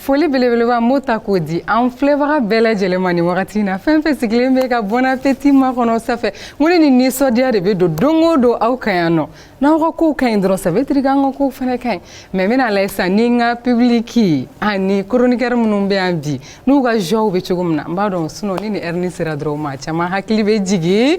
foli belebeleba n b'o ta k'o di an filɛbaga bɛɛ lajɛlen ma nin wagati na fɛn fɛn sigilen bɛ ka bon appétit makɔnɔ ça fait n ko ni nin nisɔndiya de bɛ don don o don aw ka yan nɔ n'aw ka kow ka ɲi dɔrɔn ça veut dire k'an ka kow fana ka ɲi mais n bɛna lajɛ sisan ni n ka public ani chroniqueur minnu bɛ yan bi n'u ka joie bɛ cogo min na n b'a dɔn sinon ni nin heure nin sera dɔrɔn maa caman hakili bɛ jigin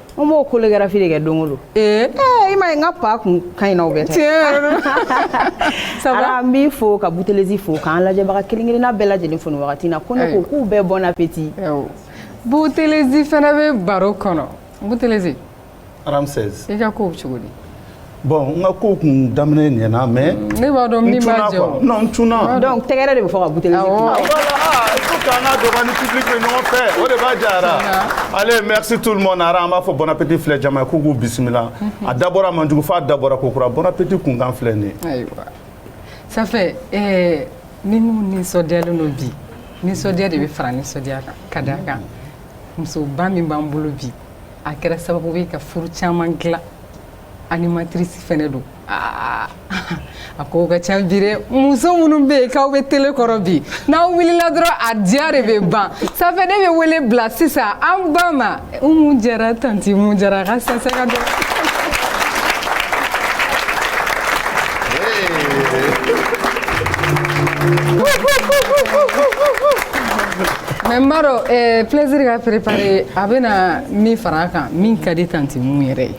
N b'o chorégraphie de kɛ don o don, ee, i m'a ye n ka pa kun ka ɲi n'aw bɛɛ ta ye, tiɲɛ yɛrɛ la, ça va, Ala an b'i fo ka Boutelezi fo k'an lajɛbaga kelen kelenna bɛɛ lajɛlen fo nin wagati in na ko ne ko k'u bɛɛ bon appétit Boutelezi fana bɛ baro kɔnɔ Boutelezi, Ramsès, i ka kow cogo di Bon n ka kow kun daminɛ ɲɛna mais ne b'a dɔn min b'a jɛ o, non n cunna, donc tɛgɛrɛ de bɛ fɔ ka Boutelezi, awɔ, il faut que an ka dɔ bɔ an ni public bɛɛ ɲɔgɔn fɛ o de b'a diya ara, allez merci tout le monde ara an b'a fɔ bon appétit filɛ jama ye ko k'u bisimila a dabɔra man jugu f'a dabɔra kokura bon appétit kunkan filɛ nin ye, ayiwa ça fait ɛɛ ni minnu nisɔndiyalen don bi nisɔndiya de bɛ fara nisɔndiya kan ka d'a kan musoba min b'an bolo bi a kɛra sababu ye ka furu caman dilan Animatrice fana don aa a ko ka ca bi dɛ muso minnu bɛ yen k'aw bɛ télé kɔrɔ bi n'aw wulila dɔrɔn a diya de bɛ ban ça fait ne bɛ wele bila sisan an ba ma Umu Jara tanti Umu Jara a ka sɛnsɛn ka don. mais n b'a dɔn plaisir ka préparer a bɛna min fara a kan min ka di tanti Umu yɛrɛ ye.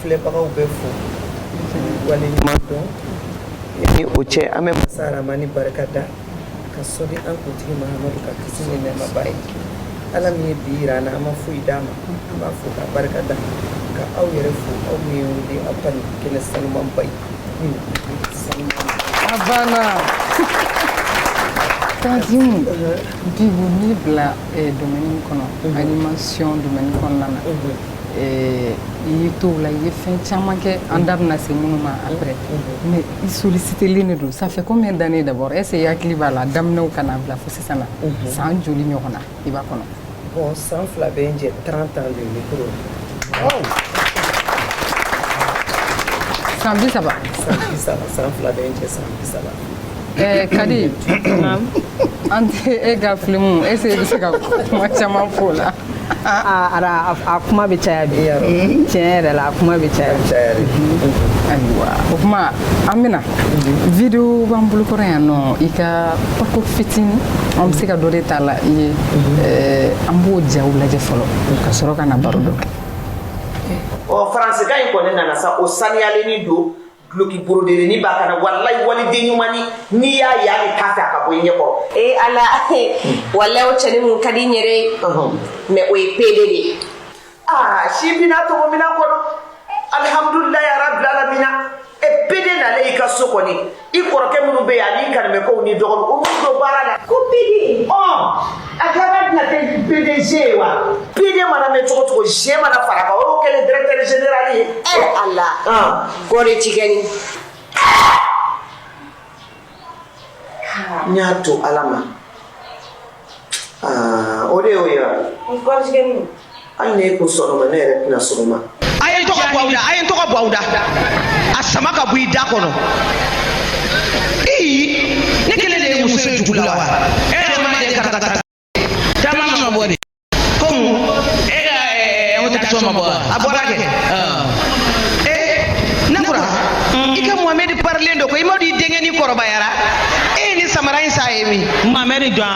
filɛbagaw bɛɛ fo waleɲuman dɔn ni o cɛ an bɛ masa ramani barika da ka sɔli an kuntigi Mahamadu kan kisi ni nɛɛma b'a ye ala min ye bi yira an na an ma foyi d'a ma an b'a fo k'a barika da ka aw yɛrɛ fo aw min ye wele aw ka nin kɛnɛ sanumanba ye min sanuman a banna tanti Umu depuis n'i bila domaine kɔnɔ animation domaine kɔnɔna na i y'i to o la i ye fɛn caman kɛ an da bɛna se minnu ma après mais i sollicitélen de don ça fait combien d'années d'abord est-ce que i hakili b'a la daminɛw ka n'a bila fo sisan na san joli ɲɔgɔn na i b'a kɔnɔ bon san fila bɛ n jɛ trente ans de micro san bi saba san fila bɛ n jɛ san bi saba Ɛɛ kadi an tɛ e ka filimu est-ce que i bɛ se ka kuma caman fɔ o la ara a kuma bɛ caya bi mm-hmm. tiɲɛ yɛrɛ la a kuma bɛ caya mm-hmm. ayiwa o kuma an bɛna mm-hmm. video b'an bolo kɔrɔ yan nɔ i ka parcours fitini an bɛ se ka dɔ de t'a la i ye an b'o jaw lajɛ fɔlɔ ka sɔrɔ ka na baro dɔ kɛ ɔ faransikan in kɔni nana sa o saniyalenin don duloki borodelenni b'a kan na walayi waliden ɲumannin n'i y'a ye hali i t'a fɛ a ka bɔ i ɲɛ kɔrɔ ee ala walayi o cɛni mun ka di n yɛrɛ ye mais o ye pede de ye aa si bina tɔgɔ mina kɔnɔ alihamudulilayi arabilalamina e pede nalen i ka so kɔni i kɔrɔkɛ minnu bɛ yen ani kanimɛkɛw ni dɔgɔninw o minnu don baara la ko pede ɔ a laban tɛna kɛ pdg ye wa pd mana mɛn cogo cogo g mana fara a kan o y'o kɛlen directeur général ye e ala kɔɔri tigɛni n y'a to ala ma o de y'o ye wa hali ne ko sɔgɔma ne yɛrɛ tɛ na sɔgɔma a ye n tɔgɔ bɔ aw da a ye n tɔgɔ bɔ aw da a sama ka bɔ i da kɔnɔ ii ne kelen de ye muso ye dugu la wa e yɛrɛ ma deli ka taa taa caman ma bɔ de ko e ka ɛɛ invitation ma bɔ wa a bɔra kɛ ee nakura i ka mohamɛdi parelen don ko i m'a dɔn i denkɛni forobayara e ye nin samara in san ye min mamɛri jɔn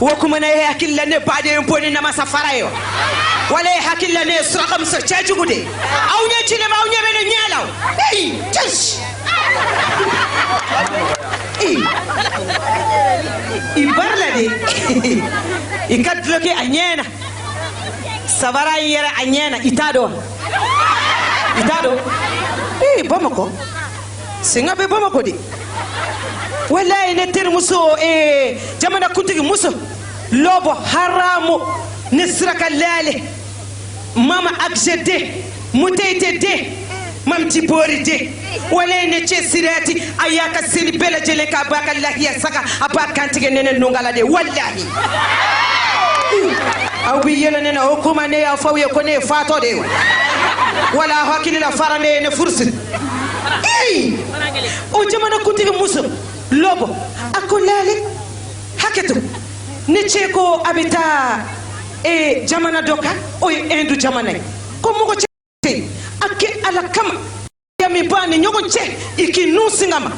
wo kuma na e hakili la ne baden bon ni namasa fara yo wala e hakili la ne ye suraka muso cɛjugu de aw ɲɛ ci ne ma aw ɲɛ bɛ ne ɲɛ la ei cɛs i parela dɛ i ka duloki a ɲɛna sabara in yɛrɛ a ɲɛna i t'a dɔn wa i t'a dɔn ee bamakɔ singa bɛ bamakɔ de walayi ne terimuso ee jamanakuntigi muso lɔbɔ haramu ne siraka laale mama akisɛ de muteyite de mamti boori de walayi ne cɛ siriyati a y'a ka seli bɛɛ lajɛlen k'a b'a ka lahiya saga a b'a kan tigɛ ni ne nunkala de walayi aw bɛ yɛlɛ ne na o kuma ne y'a fɔ aw ye ko ne ye fatɔ de ye wa wala aw hakili la fara de ye ne furusiri Hey! O jamanakuntigi muso lɔbɔ a ko laale hakɛto ne cɛ ko a bɛ taa ee jamana dɔ kan o ye Hindu jamana ye ko mɔgɔ cɛ a kɛ ala kama ya min b'an ni ɲɔgɔn cɛ i k'i nun singa n ma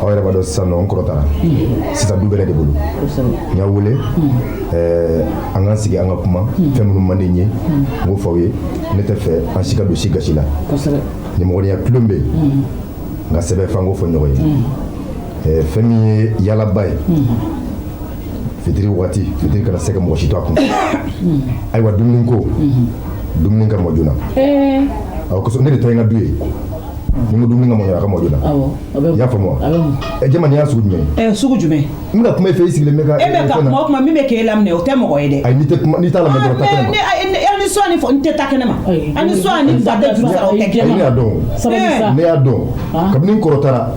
aw yɛrɛ b'a dɔn sisan nɔ n kɔrɔ taara sisan du bɛ ne de bolo n y'aw wele eh, an k'an sigi an ka kuma fɛn minnu man di n ye n k'o fɔ aw ye ne t'a fɛ an si ka don si gasi la nimɔgɔniya tulon bɛ yen nka sɛbɛ f'an k'o fɔ ɲɔgɔn ye eh, fɛn min ye yaalaba ye fitiri waati fitiri kana se ka mɔgɔ si to a kun ayiwa dumuni ko dumuni ka mɔ joona eh. aw kosɔn ne de ta ye n ka du ye Mun dumuni ka mɔ joona a ka mɔ joona i y'a faamu wa jama nin y'a sugu jumɛn ɛ sugu jumɛn n ka kuma e fɛ i sigilen bɛ e bɛ kuma kuma min bɛ k'e laminɛ o tɛ mɔgɔ ye dɛ ayi n'i t'a lamɛn dɔrɔn ta kɛnɛ ma ni sɔn ni fɔ n tɛ ta kɛnɛ ma ani sɔn ni fa tɛ juru sara o tɛ kɛnɛ ma ne y'a dɔn ne y'a dɔn kabini kɔrɔtara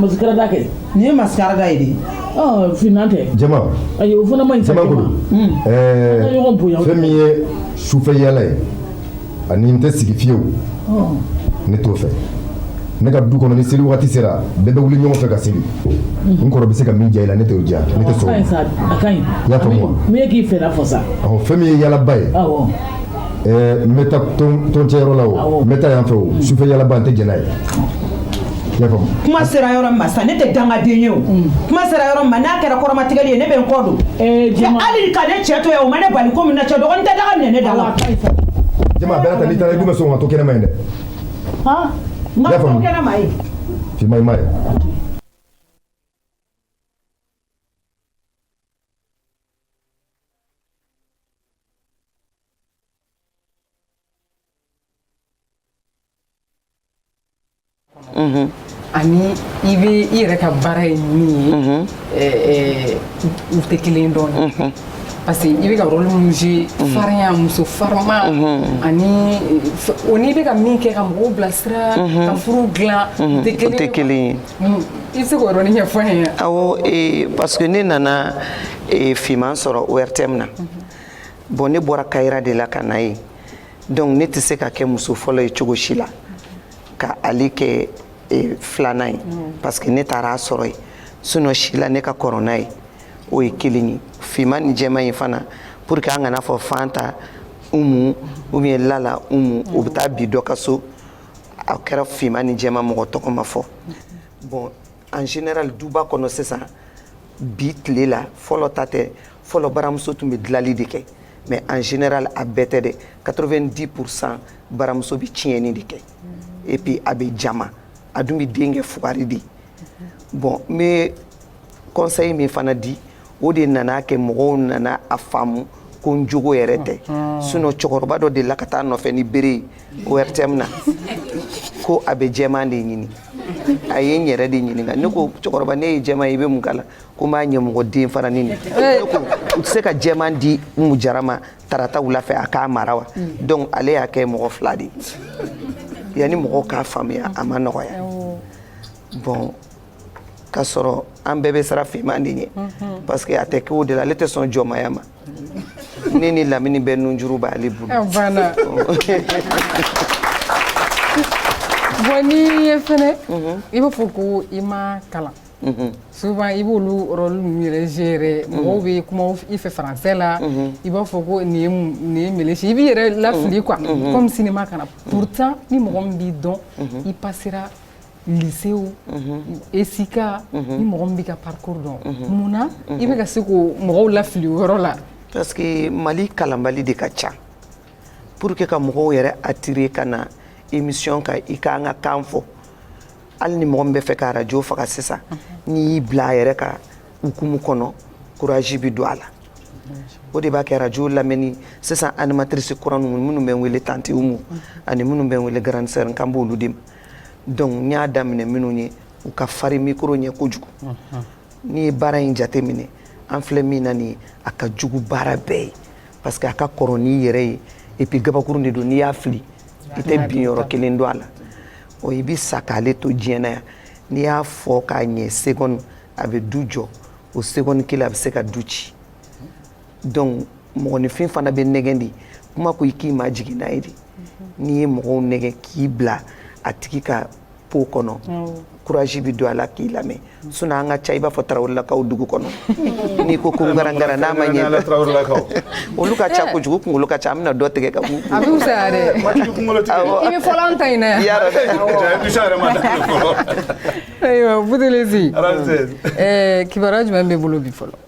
Maskara da kɛ nin ye maskara da ye de ɔ finman tɛ jama ayi o fana ma ɲi jama ko fɛn min ye sufɛ yaala ye ani n tɛ sigi fiyewu ne t'o fɛ ne ka du kɔnɔ ni seli waati sera bɛɛ bɛ wuli ɲɔgɔn fɛ ka seli n kɔrɔ bɛ se ka min diya i la ne t'o diya ne tɛ sɔn i y'a faamu wa min ye k'i fɛla fɔ sa ɔ fɛn min ye yaalaba ye n bɛ taa tɔncɛyɔrɔ la o n bɛ taa yan fɛ o sufɛ yaalaba n tɛ jɛn n'a ye kuma sera yɔrɔ ma sa ne tɛ dangaden ye o kuma sera yɔrɔ ma n'a kɛra kɔrɔmatigɛli ye ne bɛ n kɔ don hali ka ne cɛ to yan o ma ne bali ko min na cɛ dɔgɔnin tɛ daga minɛ ne da la jama a bɛɛ n'a ta n'i taara i dun bɛ sɔn ka to kɛnɛma yen dɛ n ka to kɛnɛma yen finman i m'a ye ani i bɛ i yɛrɛ ka baara ye min ye mhm. eh, eh, u tɛ kelen dɛ mhm. parce que i bɛ ka rôle min jouer mhm. farinya muso farima ani eh, o n'i bɛ ka min kɛ ka mɔgɔw bilasira ka furu dilan u tɛ kelen ye mm, i bɛ se k'o yɔrɔnin ɲɛfɔ n ye awɔ parce que ne nana finman sɔrɔ ORTM na bon ne bɔra Kayira de la ka na yen donc ne tɛ se ka kɛ muso fɔlɔ ye cogo si la ka ale kɛ e, filanan ye mm. parce que ne taara a sɔrɔ yen sinon si la ne ka kɔrɔ n'a ye o ye kelen ye finman ni jɛman in fana pour que an kana fɔ Fanta Umu ou bien Lala Umu o bɛ taa bin dɔ ka so a kɛra finman ni jɛman mɔgɔ tɔgɔ ma fɔ bon en général duba kɔnɔ sisan bi tile la fɔlɔ ta tɛ fɔlɔ baramuso tun bɛ dilali de kɛ mais en général a bɛɛ tɛ dɛ 90 pourcent baramuso bɛ tiɲɛni de kɛ et puis a bɛ jama a dun bɛ den kɛ fugari de bon n bɛ conseil min fana di o de nana kɛ mɔgɔw nana a faamu ko n jogo yɛrɛ tɛ sinon cɛkɔrɔba dɔ delila ka taa n nɔfɛ ni bere ye ORTM na ko a bɛ jɛman de ɲini a ye n yɛrɛ de ɲininka ne ko cɛkɔrɔba ne ye jɛman ye i bɛ mun k'a la ko n b'a ɲɛmɔgɔ den faranin de ne ko u tɛ se ka jɛman di Umu Jara ma tarata wula fɛ a k'a mara wa donc ale y'a kɛ mɔgɔ fila de ye yanni mɔgɔw k'a faamuya a ma nɔgɔya bon ka sɔrɔ an bɛɛ bɛ sara fiman de ɲɛ mhm. parce que a tɛ kɛ o de la ale tɛ sɔn jɔnmaya ma ne ni Lamini bɛ nunjuru b'ale bolo ah, bon n'i ye fɛnɛ mhm. i b'a fɔ ko i ma kalan mhm. souvent i b'olu rôle ninnu yɛrɛ jouer mɔgɔw bɛ kuma i fɛ français la i b'a fɔ ko nin ye nin ye melesi i b'i yɛrɛ lafili quoi comme cinéma kana pourtant ni mɔgɔ min b'i dɔn i passera lycée Askia ni mɔgɔ min b'i ka parcours dɔn munna i bɛ ka se ka mɔgɔw lafili o yɔrɔ la parce que Mali kalanbali de ka ca pour que ka mɔgɔw yɛrɛ attirer ka na émission kan i ka an ka kan fɔ hali ni mɔgɔ min bɛ fɛ ka radio faga sisan n'i y'i bila a yɛrɛ ka hukumu kɔnɔ courage bɛ don a la o de b'a kɛ radio lamɛnni sisan animatrice kura ninnu minnu bɛ n wele tante Umu ani minnu bɛ n wele grande sœur n kan b'olu de ma donc n y'a daminɛ minnu ye u ka fari micro ɲɛ kojugu n'i ye baara in jate minɛ an filɛ min na nin a ka jugu baara bɛɛ ye parce que a ka kɔrɔ n'i yɛrɛ ye et puis gabakurun de don n'i y'a fili i tɛ binyɔrɔ kelen dɔn a la ɔ i bɛ sa k'ale to diɲɛ na yan n'i y'a fɔ k'a ɲɛ seconde a bɛ du jɔ o seconde kelen a bɛ se ka du ci donc mɔgɔninfin fana bɛ nɛgɛn de kuma ko i k'i majigin a ye de n'i ye mɔgɔw nɛgɛn k'i bila a tigi ka peau kɔnɔ courage bɛ don a la k'i lamɛn sinon an ka ca i b'a fɔ Tarawelelakaw dugu kɔnɔ n'i ko ko garangaran n'a ma ɲɛ olu ka ca kojugu kunkolo ka ca an bɛna dɔ tigɛ ka bɛ ta ayiwa kibaru jumɛn b'i bolo bi fɔlɔ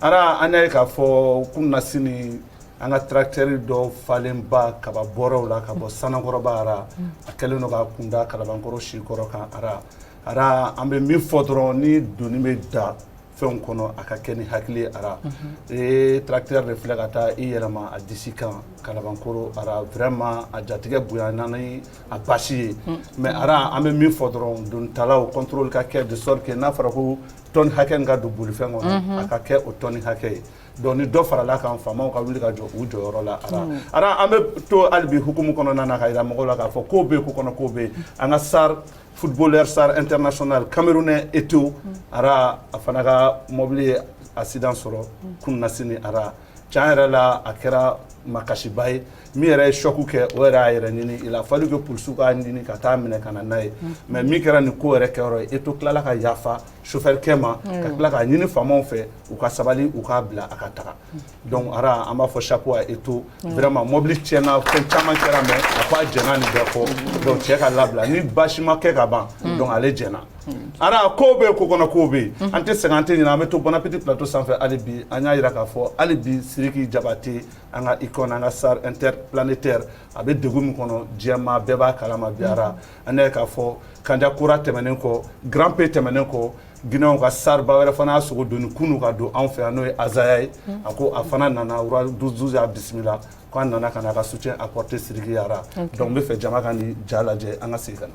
Ara an y'a ye k'a fɔ kunasini an ka tracteur dɔ falenba kaba bɔrɛw la ka bɔ Sanankɔrɔba ara a kɛlen don ka kunda Kalabankɔrɔ Sikɔrɔ kan ara ara an bɛ min fɔ dɔrɔn ni doni bɛ da fɛn kɔnɔ a ka kɛ ni hakili ara ee tracteur de filɛ ka taa i yɛlɛma a disi kan Kalabankɔrɔ ara vraiment a jatigɛ bonya a basi ye mais ara an bɛ min fɔ dɔrɔn donitalaw contrôle ka kɛ de sorte que n'a fɔra ko tonne hakɛ min ka don bolifɛn kɔnɔ a ka kɛ o tonne hakɛ ye donc ni dɔ farala kan faamaw ka wuli ka jɔ u jɔyɔrɔ la ara an bɛ to hali bi hukumu kɔnɔna na ka yira mɔgɔ la k'a fɔ ko bɛ ko kɔnɔ ko bɛ an ka star footballeur star international camerounais Eto ara a fana ka mɔbili ye accident sɔrɔ kunasini ara tiɲɛ yɛrɛ la a kɛra makasiba ye min yɛrɛ ye choc kɛ o yɛrɛ y'a yɛrɛ ɲini il a fallu que polisiw k'a ɲini ka taa minɛ ka na n'a ye mm. mais min kɛra nin ko yɛrɛ kɛyɔrɔ ye Eto tilala ka yafa sofɛrikɛ ma mm. ka tila k'a ɲini faamaw fɛ u ka sabali u k'a bila a ka taga mm. donc ara an b'a fɔ chapeau à Eto vraiment mobili tiɲɛna fɛn caman kɛra mais a ko a jɛna nin bɛɛ kɔ donc cɛ ka labila ni basi ma kɛ ka ban donc ale jɛna ara ko bɛ ko kɔnɔ ko bɛ mhm. an tɛ sɛgɛn an tɛ ɲinɛ an bɛ to Bon Appétit plateau sanfɛ hali bi an y'a jira k'a fɔ hali bi Sidiki Jabate an ka icône an ka star interplanétaire a bɛ degun min kɔnɔ diɲɛ maa bɛɛ b'a kalama bi ara mhm. an y'a ye k'a fɔ Kanja Kora tɛmɛnen kɔ Grand P tɛmɛnen kɔ Guinéenw ka star ba wɛrɛ fana y'a sogo doni kunu ka don anw fɛ yan n'o ye Azaya ye mhm. a ko a fana nana Roi 12 y'a bisimila ko a nana ka na a ka soutien apporter Sidiki ye ara donc n bɛ fɛ jama ka nin ja lajɛ an ka segin ka na.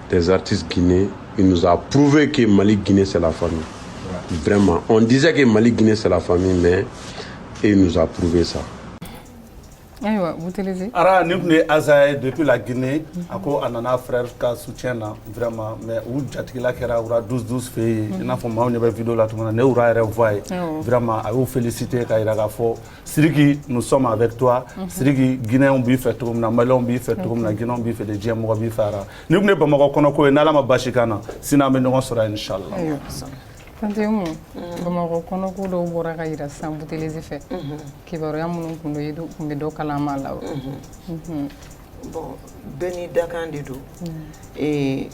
des artistes guinéens, il nous a prouvé que Mali Guinée c'est la famille. Vraiment. On disait que Mali Guinée c'est la famille, mais il nous a prouvé ça. ayiwa Boutelezi ara nin tun ye Azaya ye depuis la Guinée a ko a nana frère ka soutien na vraiment mais u jatigila kɛra Roi 12 12 fɛ yen i n'a fɔ maaw ɲɛ bɛ vidéo la cogo min na ne Roi yɛrɛ voix ye vraiment a y'u féliciter ka yira k'a fɔ Siriki nous sommes avec toi mhm. Siriki Guinéenw b'i fɛ cogo min na Malienw b'i fɛ cogo min na Guinéenw b'i fɛ de diɲɛ mɔgɔ b'i fɛ ara nin tun ye Bamakɔ kɔnɔko ye n'Ala ma baasi k'an na sini an bɛ ɲɔgɔn sɔrɔ yan inchallah Tante Umu mm. Bamakɔ kɔnɔko dɔw bɔra ka yira sisan Boutelezi fɛ mhm. kibaruya minnu tun don i tun bɛ dɔ kalama a la wa mhm. bon bɛɛ n'i dakan de don mm.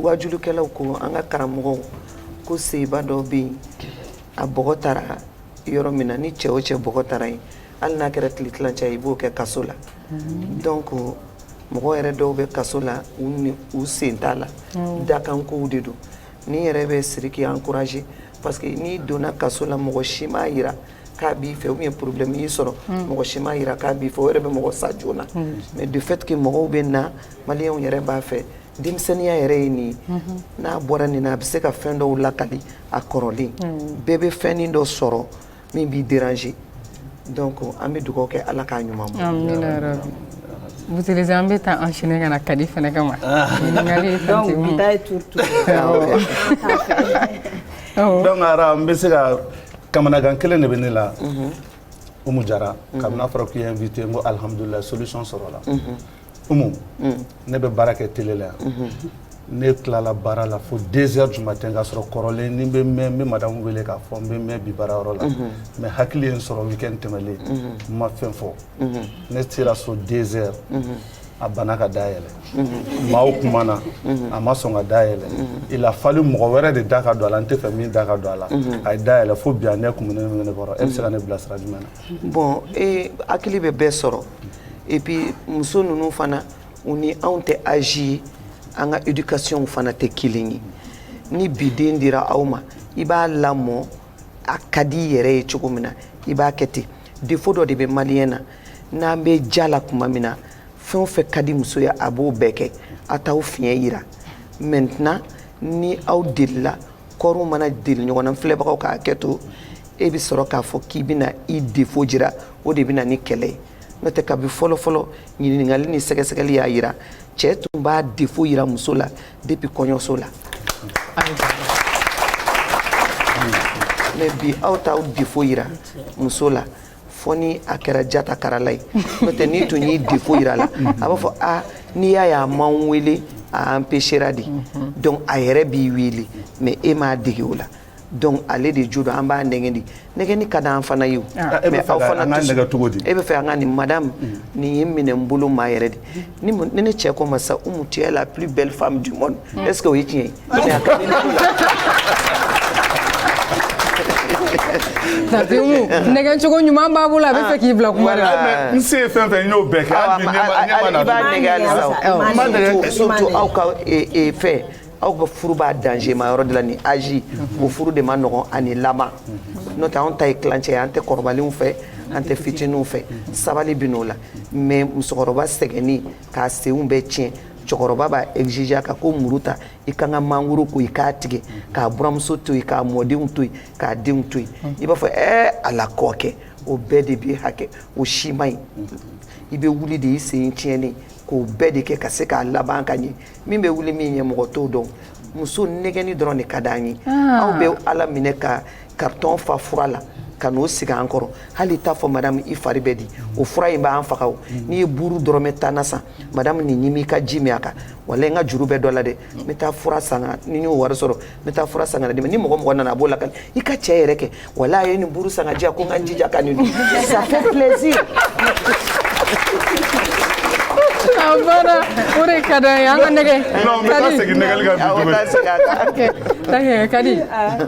waajulikɛlaw ko an ka karamɔgɔw ko cɛba dɔ bɛ yen a bɔgɔ tara yɔrɔ min na ni cɛ o cɛ bɔgɔ tara yen hali n'a kɛra tile tilancɛ ye i b'o kɛ kaso la donc mɔgɔ yɛrɛ dɔw bɛ kaso la u sen t'a la dakan kow de don nin yɛrɛ bɛ Siriki encourager parce que n'i donna kaso la mɔgɔ si m'a jira k'a b'i fɛ ou bien problème y'i sɔrɔ mɔgɔ si m'a jira k'a b'i fɛ o yɛrɛ bɛ mɔgɔ sa joona mais du fait que mɔgɔw bɛ na Malienw yɛrɛ b'a fɛ denmisɛnninya yɛrɛ ye nin ye mhm. n'a bɔra nin na a bɛ se ka fɛn dɔw lakali a kɔrɔlen mhm. bɛɛ bɛ fɛnnin dɔ sɔrɔ min b'i déranger donc an bɛ dugawu kɛ ala k'a ɲuman bɔ amina yarabi Boutelezi an bɛ taa enchaîner ka na kadi fɛnɛ kama ah. ɲininkali ye fɛn tɛ mun donc bi ta ye turu turu donc ara n bɛ se ka kamanagan kelen de bɛ ne la mhm. Umu Jara kabini a fɔra k'i ye invité n ko alhamdulilayi solution sɔrɔla Umu ne bɛ baara kɛ télé la yan ne tilala baara la fo deux heures du matin k'a sɔrɔ kɔrɔlen ni n bɛ mɛn n bɛ madame wele k'a fɔ n bɛ mɛn bi baara yɔrɔ la mais hakili ye n sɔrɔ week end tɛmɛlen n ma fɛn fɔ ne sera so deux heures a bana ka da yɛlɛ maaw kumana a ma sɔn ka da yɛlɛ il a fallu mɔgɔ wɛrɛ de da ka don a la n tɛ fɛ min da ka don a la a ye da yɛlɛ fo bi a ɲɛ kumunen bɛ ne kɔrɔ e bɛ se ka ne bilasira jumɛn na. bon e hakili bɛ bɛɛ sɔrɔ et puis muso ninnu fana u ni anw tɛ âge ye an ka éducation fana tɛ kelen ye ni bi den dira aw ma i b'a lamɔ a ka di i yɛrɛ ye cogo min na i b'a kɛ ten défaut dɔ de bɛ maliyɛn na n'an bɛ ja la tuma min na fɛn o fɛn ka di muso ye a b'o bɛɛ kɛ a t'aw fiɲɛ yira maintenant ni aw delila kɔriw mana deli ɲɔgɔn na filɛbagaw k'a kɛ to e bɛ sɔrɔ k'a fɔ k'i bɛna i défaut jira o de bɛ na ni kɛlɛ ye n'o tɛ kabi fɔlɔfɔlɔ ɲininkali ni sɛgɛsɛgɛli y'a yira cɛ tun b'a défaut yira muso la depuis kɔɲɔso la mais bi aw t'aw défaut yira muso la fo ni a kɛra jata karala ye n'o tɛ n'i tun y'i défaut yira la a b'a fɔ a n'i y'a ye a ma n wele a empêchera de mhm. donc a yɛrɛ b'i wele mais e m'a dege o la donc ale de jo don an b'a nɛgɛn de nɛgɛnni ka d'an fana ye o ah, e mais aw fana nɛgɛn cogo di e bɛ fɛ an ka nin madame mm. nin ye minɛ n bolo maa yɛrɛ de ni ne cɛ ko n ma sa Umu tu es la plus belle femme du monde mm. est-ce que o ye tiɲɛ ye Tanti Umu nɛgɛn cogo ɲuman b'a bolo a bɛ fɛ k'i bila kuma la. Ah, n se ye fɛn fɛn n y'o bɛɛ kɛ hali bi ɲɛma na. i b'a nɛgɛn halisa o. n b'a nɛgɛn surtout aw ka e, e, fɛn aw ka furu b'a dangerma yɔrɔ de la ni âge o furu de man nɔgɔn ani laban n'o tɛ anw ta ye tilancɛ ye an tɛ kɔrɔbalenw fɛ an tɛ fitininw fɛ sabali bɛ n'o la mais musokɔrɔba sɛgɛnnen k'a senw bɛɛ tiɲɛ cɛkɔrɔba b'a exiger ka ko muru ta i k'a ka mangoro ko i k'a tigɛ k'a buramuso to yen k'a mɔdenw to yen k'a denw to yen i b'a fɔ ɛɛ ala kɔ kɛ o bɛɛ de bɛ hakɛ o si man ɲi i bɛ wuli de i sen tiɲɛnen k'o bɛɛ de kɛ ka se k'a laban ka ɲɛ min bɛ wuli min ɲɛ mɔgɔ t'o dɔn muso nɛgɛnni dɔrɔn de ka d'an ye ah. aw bɛ ala minɛ ka karitɔn fa fura la ka n'o sigi an kɔrɔ hali t'a fɔ madame i fari bɛ di o fura in b'an faga o n'i ye buuru dɔrɔmɛ tan na san madame nin ɲimi ka ji min a kan walayi n ka juru bɛ dɔ la dɛ n bɛ taa fura san ka ni n y'o wari sɔrɔ n bɛ taa fura san ka n'a d'i ma ni mɔgɔ mɔgɔ nana a b'o lakali n ka cɛ yɛrɛ kɛ walayi a ye nin buuru san k'a di yan ko n ka n jija ka nin dun ça fait plaisir a banna o de ka d'an ye an ka nɛgɛn non n bɛ taa segin nɛgɛnni kan bi tuguni. Awɔ, taa segin a kan. Ok, d'accord, Kadi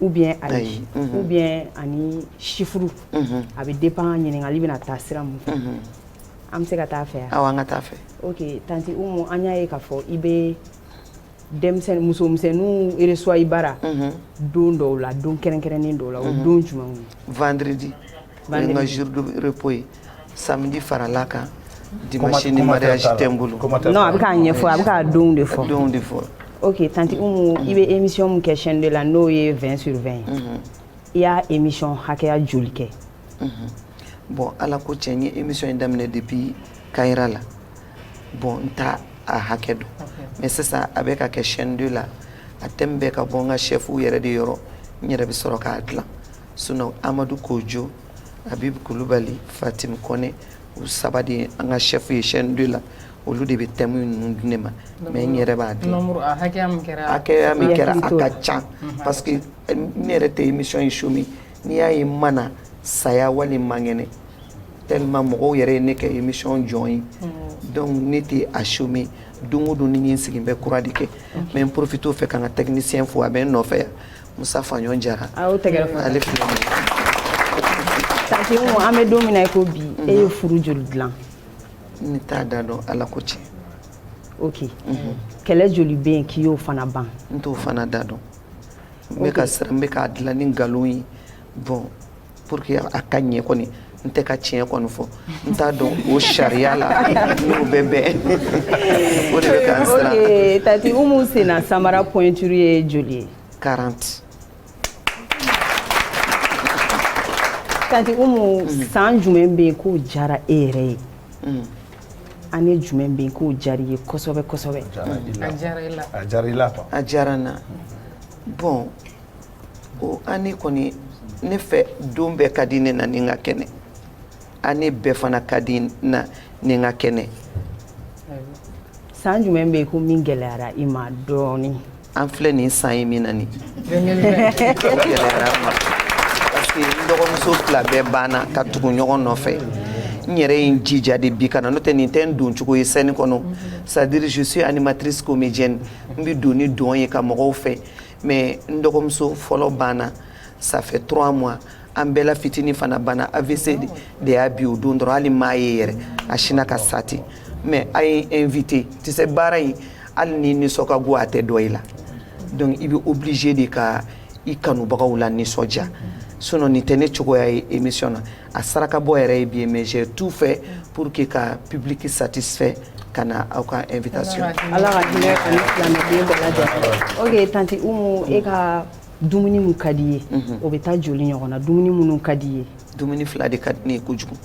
ou bien ayi ou bien ani chiffre a bɛ dépend ɲininkali bɛna taa sira mun fɛ an bɛ se ka taa fɛ yan awɔ an ka taa fɛ ok tanti Umu an y'a ye k'a fɔ i bɛ denmisɛnnin musomisɛnninw reçoit i bara don dɔw la don kɛrɛnkɛrɛnnen dɔw la o don jumɛn vendredi N ka jour de repos ye samedi faral'a kan dimanche ni mariage tɛ n bolo. Non a bɛ k'a ɲɛfɔ a bɛ k'a donw de fɔ. Donw de fɔ. Ok tante Umu i bɛ émission min kɛ chaîne 2 la n'o ye 20 sur 20 ye. Unhun. I y'a émission hakɛya joli kɛ? Unhun bon Ala ko tiɲɛ n ye émission in daminɛ depuis Kayira la bon n t'a a hakɛ dɔn mais sisan a bɛ ka kɛ chaîne 2 la a thème bɛ ka bɔ n ka chefs yɛrɛ de yɔrɔ n yɛrɛ bɛ sɔrɔ k'a dilan. Sinon Amadu Kojo Habib Kulubali Fatim Kɔnɛ u saba de ye an ka chef ye chaîne 2 la olu de bɛ thème ninnu di ne ma mais n yɛrɛ b'a dɔn min kɛra a ka ca parce que ne yɛrɛ tɛ émission in chômer n'i y'a ye n ma na saya wali n man kɛnɛ tellement mɔgɔw yɛrɛ ye ne kɛ émission jɔn ye donc ne tɛ a chômer don o don ni sigilen bɛ kura de kɛ n bɛ profiter o fɛ ka n ka technicien fo a bɛ n nɔfɛ yan Musa Faɲɔn Jara a y'o tɛgɛrɛ fɔ ale filɛ nin ye Tanti Umu an bɛ don min na i ko bi e ye furu joli dilan ne t'a da dɔn Ala ko tiɲɛ ok kɛlɛ joli bɛ yen k'i y'o fana ban n t'o fana da dɔn n bɛ ka siran n bɛ k'a dilan ni nkalon ye bon Pour que a ka ɲɛ kɔni n tɛ ka tiɲɛ kɔni fɔ n t'a dɔn o sariya la n'o bɛ bɛn o de bɛ k'an siran ok Tanti Umu sen na samara pointure ye joli ye 40 Tanti Umu san jumɛn bɛ yen k'o diyara e yɛrɛ ye ani jumɛn bɛ yen k'o diyara i ye kosɛbɛ kosɛbɛ a diyara i la a diyara n na bon ko année kɔni ne fɛ don bɛɛ ka di ne na ni n ka kɛnɛ année bɛɛ fana ka di na ni n ka kɛnɛ san jumɛn bɛ yen ko min gɛlɛyara i ma dɔɔnin an filɛ nin san ye min na nin gɛlɛyara n ma parce que n dɔgɔmuso fila bɛɛ banna ka tugu ɲɔgɔn nɔfɛ n yɛrɛ ye n jija de bi ka na n'o tɛ nin tɛ n doncogo ye scène kɔnɔ c'est à dire je suis animatrice comédienne n bɛ don ni dɔn ye ka mɔgɔw fɛ mais n dɔgɔmuso fɔlɔ banna ça fait trois mois an bɛɛ la fitini fana banna AVC de y'a bin o don dɔrɔn hali n m'a ye yɛrɛ a sinna ka sa ten mais aw ye n inviter tu sais baara in hali n'i nisɔn ka go a tɛ dɔn i la donc i bɛ obligé de ka i kanubagaw lanisɔndiya sinon nin tɛ ne cogoya ye émission na a sarakabɔ yɛrɛ ye bi ye mais j'ai tout fait pour que ka public satisfait ka na aw ka invitation Ala ka hinɛ a ni silamɛden bɛɛ lajɛlen ok tanti umu e ka dumuni min ka di i ye mhm. o bɛ taa joli ɲɔgɔn na dumuni minnu ka di i ye dumuni fila de ka di ne ye kojugu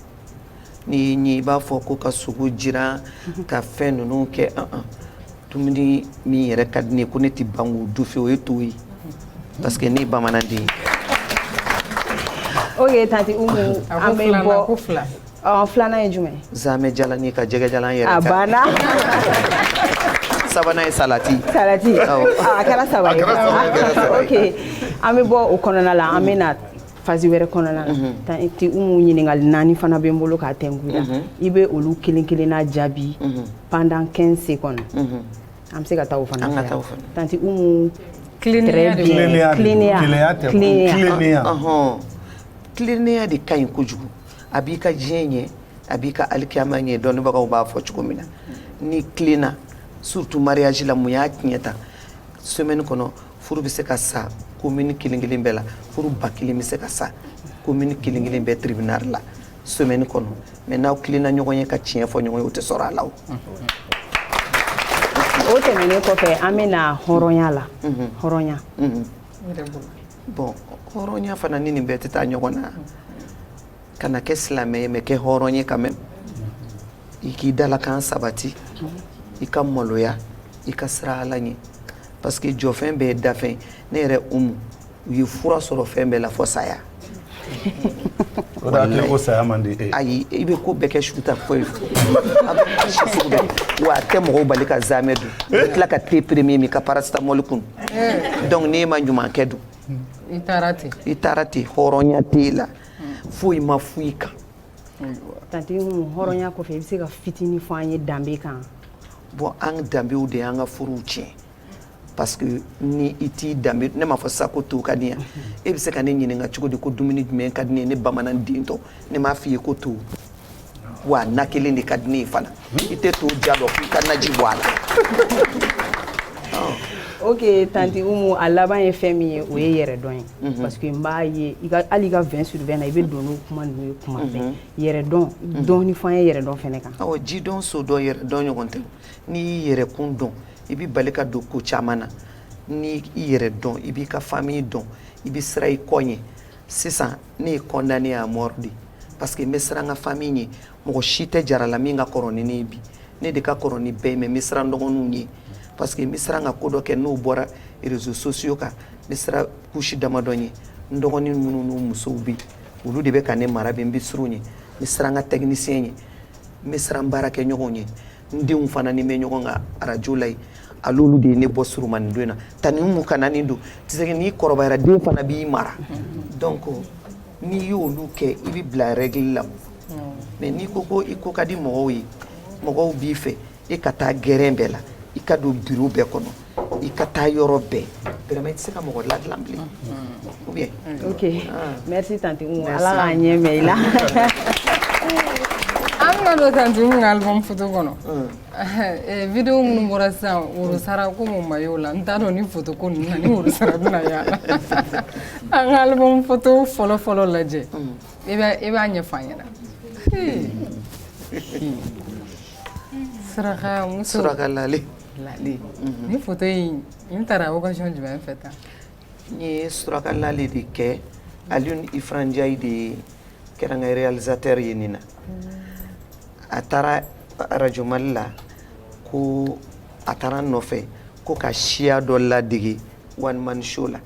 n'i y'i ɲɛ i b'a fɔ ko ka sogo jiran mhm. ka fɛn ninnu kɛ an an dumuni min yɛrɛ ka di ne ye ko ne tɛ ban k'o dun fewu o ye to ye parce que ne ye bamananden ye. ok tanti umu an bɛ bɔ ko fila ɔ filanan ye jumɛn ye. zamɛ jalani ka jɛgɛ jalan yɛrɛ. a banna. sabanan ye salati. salati a kɛra saba ye. a kɛra saba ye. ok an bɛ bɔ o kɔnɔna la an bɛ na. phase wɛrɛ kɔnɔna na mhm. tanti umu ɲininkali naani fana bɛ n bolo k'a tɛnku la mhm. i bɛ olu kelen kelenna jaabi mhm. pendant 15 secondes an bɛ se ka taa o fana fɛ tanti umu tilennenya de ka ɲi kojugu a b'i ka diɲɛ ɲɛ a b'i ka alikiyama ɲɛ dɔnnibagaw b'a fɔ cogo min na n'i tilenna surtout mariage la mun y'a tiɲɛ tan semaine kɔnɔ furu bɛ se ka sa commune kelen kelen bɛɛ la furu ba kelen bɛ se ka sa commune kelen kelen bɛɛ tribunal la semaine kɔnɔ mais n'aw tilenna ɲɔgɔn ye ka tiɲɛ fɔ ɲɔgɔn ye o tɛ sɔrɔ a la o o tɛmɛnen kɔfɛ an bɛ na hɔrɔnya la mhm. hɔrɔnya mhm. bon hɔrɔnya fana ni nin bɛɛ tɛ taa ɲɔgɔn na kana kɛ silamɛ ye mais kɛ hɔrɔn ye quand même i k'i dalakan sabati i ka maloya i ka siran ala ɲɛ parce que jɔfɛn bɛɛ ye dafɛn ne yɛrɛ umu u ye fura sɔrɔ fɛn bɛɛ la fɔ saya ko saya man di e ayi i bɛ ko bɛɛ kɛ suta foyi wa a tɛ mɔgɔw bali ka zamɛ dun i tila ka te premier min ka paracetamol kun donc n'e ma ɲuman kɛ dun i taara ten i taara ten hɔrɔnya t'e la foyi ma foyi kan tanti hɔrɔnya kɔfɛ i bɛ se ka fitinin fɔ an ye danbe kan bon an danbew de y'an ka furuw tiɲɛ parce que ni i t'i danbe ne m'a fɔ sa ko to ka di yan e bɛ se ka ne ɲininka cogo di ko dumuni jumɛn ka di ne ye ne bamananden tɔ ne m'a f'i ye ko to wa na kelen de ka di ne ye fana i tɛ to diya dɔn k'i ka naji bɔ a la ok tanti umu a laban ye fɛn min ye o ye yɛrɛdɔn ye mhm. parce que n b'a ye hali i ka vingt sur vingt na i bɛ don n'o kuma ninnu ye kuma fɛ mhm. yɛrɛdɔn mhm. dɔɔni fɔ an ye yɛrɛdɔn fɛnɛ kan awɔ jidɔn sodɔn yɛrɛdɔn ɲɔgɔn tɛ n'i y'i yɛrɛ kun dɔn i bɛ bali ka don ko caman na n'i i yɛrɛ dɔn i b'i ka famille dɔn i bɛ siran i kɔ ɲɛ sisan ne ye condamné à mort de parce que n bɛ siran n ka famille ɲɛ mɔgɔ si tɛ jarala min ka kɔrɔ ni ne ye bi ne de ka kɔrɔ ni bɛɛ ye mais n bɛ siran n dɔgɔninw ɲɛ parce que n bɛ siran ka ko dɔ kɛ n'o bɔra réseaux sociaux kan n bɛ siran couche damadɔ ɲɛ n dɔgɔnin minnu n'u musow bɛ yen olu de bɛ ka ne mara bi n bɛ siran u ɲɛ n bɛ siran n ka technicien ɲɛ n bɛ siran n baarakɛɲɔgɔnw ɲɛ n denw fana ni n bɛ ɲɔgɔn kan arajo la yen al'olu de ye ne bɔ surunmannin don na tante Umu kana nin don parce que n'i kɔrɔbayara den fana b'i mara dɔnku n'i y'olu kɛ i bɛ bila règle la mɛ n'i ko ko i ko ka di mɔgɔw ye mɔgɔw b'i fɛ e ka taa gɛrɛn bɛɛ la i ka don biro bɛɛ kɔnɔ i ka taa yɔrɔ bɛɛ vraiment i tɛ se ka mɔgɔ ladilan bilen ou bien ok merci tante Umu ala k'an ɲɛ mɛn i la an bɛna don tante Umu ka album photo kɔnɔ video minnu bɔra sisan worosara ko mun ma y'o la n t'a dɔn ni photo ko ninnu na ni worosara bɛna y'a la an ka album photo fɔlɔ fɔlɔ lajɛ i b'a i b'a ɲɛfɔ an ɲɛna surakamuso Suraka Lale ni photo in tara occasion jumɛn fɛ tan n ye Suraka Lale de kɛ Alioune Ifra Ndiaye de kɛra n ka réalisateur ye nin na a taara arajo Mali la ko a taara n nɔfɛ ko ka siya dɔ ladege one man show la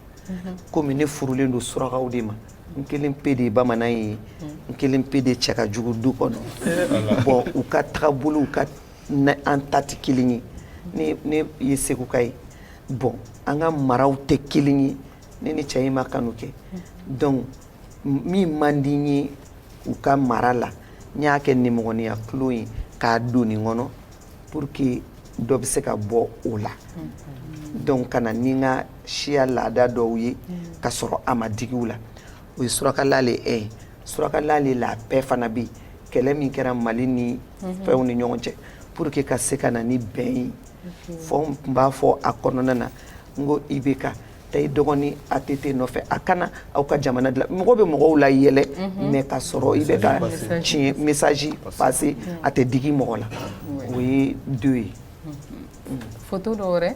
kɔmi ne furulen don surakaw de ma n kelen pe de ye bamanan ye n kelen pe de cɛ ka jugu du kɔnɔ bɔn u ka tagabolo ka Mɛ an ta tɛ kelen ye ne ne ye seguka ye bɔn an ka maraw tɛ kelen ye ne ni cɛ in ma kanu kɛ dɔnku min man di n ye u ka mara la n y'a kɛ nimɔgɔniya tulon ye k'a don nin kɔnɔ pour que dɔ bɛ se ka bɔ o la dɔnku ka na ni n ka siya laada dɔw ye ka sɔrɔ a ma digi u la o ye Suraka Lale ye Suraka Lale la bɛɛ fana bɛ kɛlɛ min kɛra mali ni fɛnw ni ɲɔgɔn cɛ pour que ka se ka na ni bɛn ye fɔ n tun b'a fɔ a kɔnɔna na n ko IBK taa i dɔgɔnin ATT nɔfɛ a ka na aw ka jamana dilan mɔgɔ bɛ mɔgɔw layɛlɛ mɛ ka sɔrɔ i bɛ ka tiɲɛ mesaji pase a tɛ digi mɔgɔ la o ye do ye foto dɔ wɛrɛ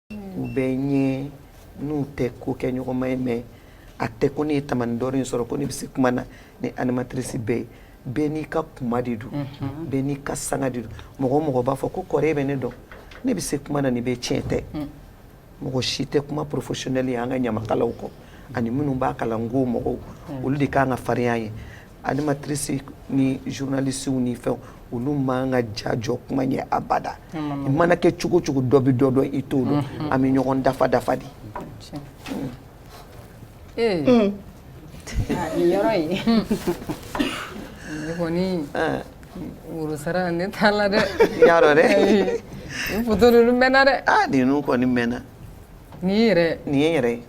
u bɛ n ɲɛ n'u tɛ kokɛɲɔgɔnma ye mɛ a tɛ ko ne ye Tamani d'Or in sɔrɔ ko ne bɛ se kuma na ni animatrice bɛɛ ye bɛɛ n'i ka kuma de don bɛɛ n'i ka sanga de don mɔgɔ o mɔgɔ b'a fɔ ko kɔrɔ bɛ ne dɔn ne bɛ se kuma na ni bɛɛ tiɲɛ tɛ mɔgɔ si tɛ kuma professionnel ye an ka ɲamakalaw kɔ ani minnu b'a kalan n ko mɔgɔw olu de kan ka farinya ye Animatrice ni journalistew ni fɛn olu man ka ja jɔ kuma ye abada i mana kɛ cogo o cogo dɔ bɛ dɔ dɔn i t'o dɔn an bɛ ɲɔgɔn dafa dafa de worosara ne t'a la dɛ ya dɛ mɛnna dɛ nin kɔni mɛnna nin nin yɛrɛ ye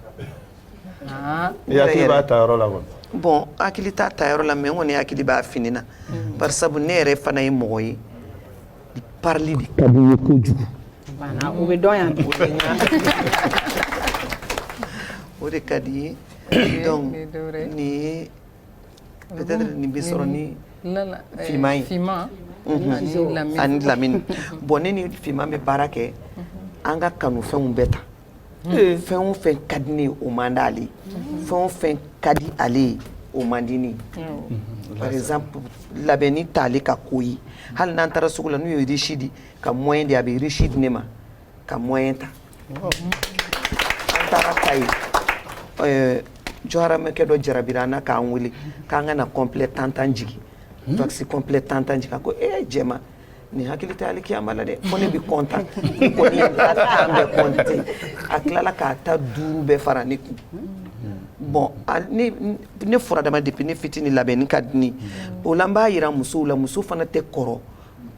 I hakili b'a ta yɔrɔ la wa bon hakili t'a ta yɔrɔ la mais n kɔni hakili b'a fini na bari sabu ne yɛrɛ fana ye mɔgɔ ye parili de ka di n ye kojugu u bɛ dɔn yan o de ka di n ye donc ni nin bɛ sɔrɔ ni Fiman ye Fiman ani Lamini bon ne ni Fiman bɛ baara kɛ an ka kanufɛnw bɛɛ ta Eh. fɛn o fɛn ka di ne o man d'ale ye mhm. fɛn o fɛn ka di ale ye o man di ne ye mhm. par exemple labɛnni t'ale ka ko ye hali n'an taara sugu la n'u ye riche di ka moyen di a bɛ riche di ne ma ka moyen ta oh. an taara Kayi eh, jɔharamɛkɛ dɔ jarabira an na k'an wele k'an ka na complet tantan jigin mhm. wax complet tantan jigin a ko ee eh, jɛma nin hakili tɛ alikiyama la dɛ ko ne bɛ content ko ni ka tan bɛɛ compter a tilala k'a ta duuru bɛɛ fara ne kun bon ne fɔra dama depuis ne fitini labɛnni ka di ne o la n b'a yira musow la muso fana tɛ kɔrɔ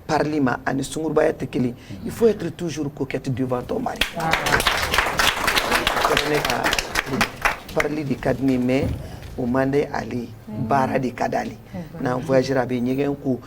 parili ma ani sungurubaya tɛ kelen il faut être toujours coquette devant ton mari ne ka parili de ka di ne mais o man di ale ye baara de ka d'ale n'an voyagera a bɛ ɲɛgɛn ko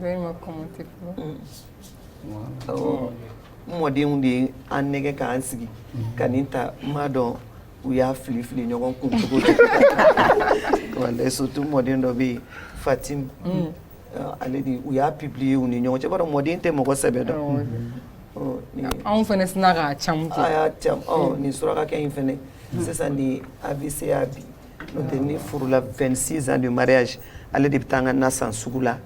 Dɔw ma kɔn tɛ mɔdenw de ye an nɛgɛ k'an sigi ka nin ta n m'a dɔn u y'a fili fili ɲɔgɔn kun cogo di walayi surtout mɔden dɔ bɛ yen Fatim ale de u y'a publier u ni ɲɔgɔn cɛ bari mɔden tɛ mɔgɔ sɛbɛ dɔn anw fana sina ka ca nin surakakɛ in fana sisan ni AVC y'a bin N'o tɛ ne furula 26 ans de mariage ale de bɛ taa n ka na san sugu la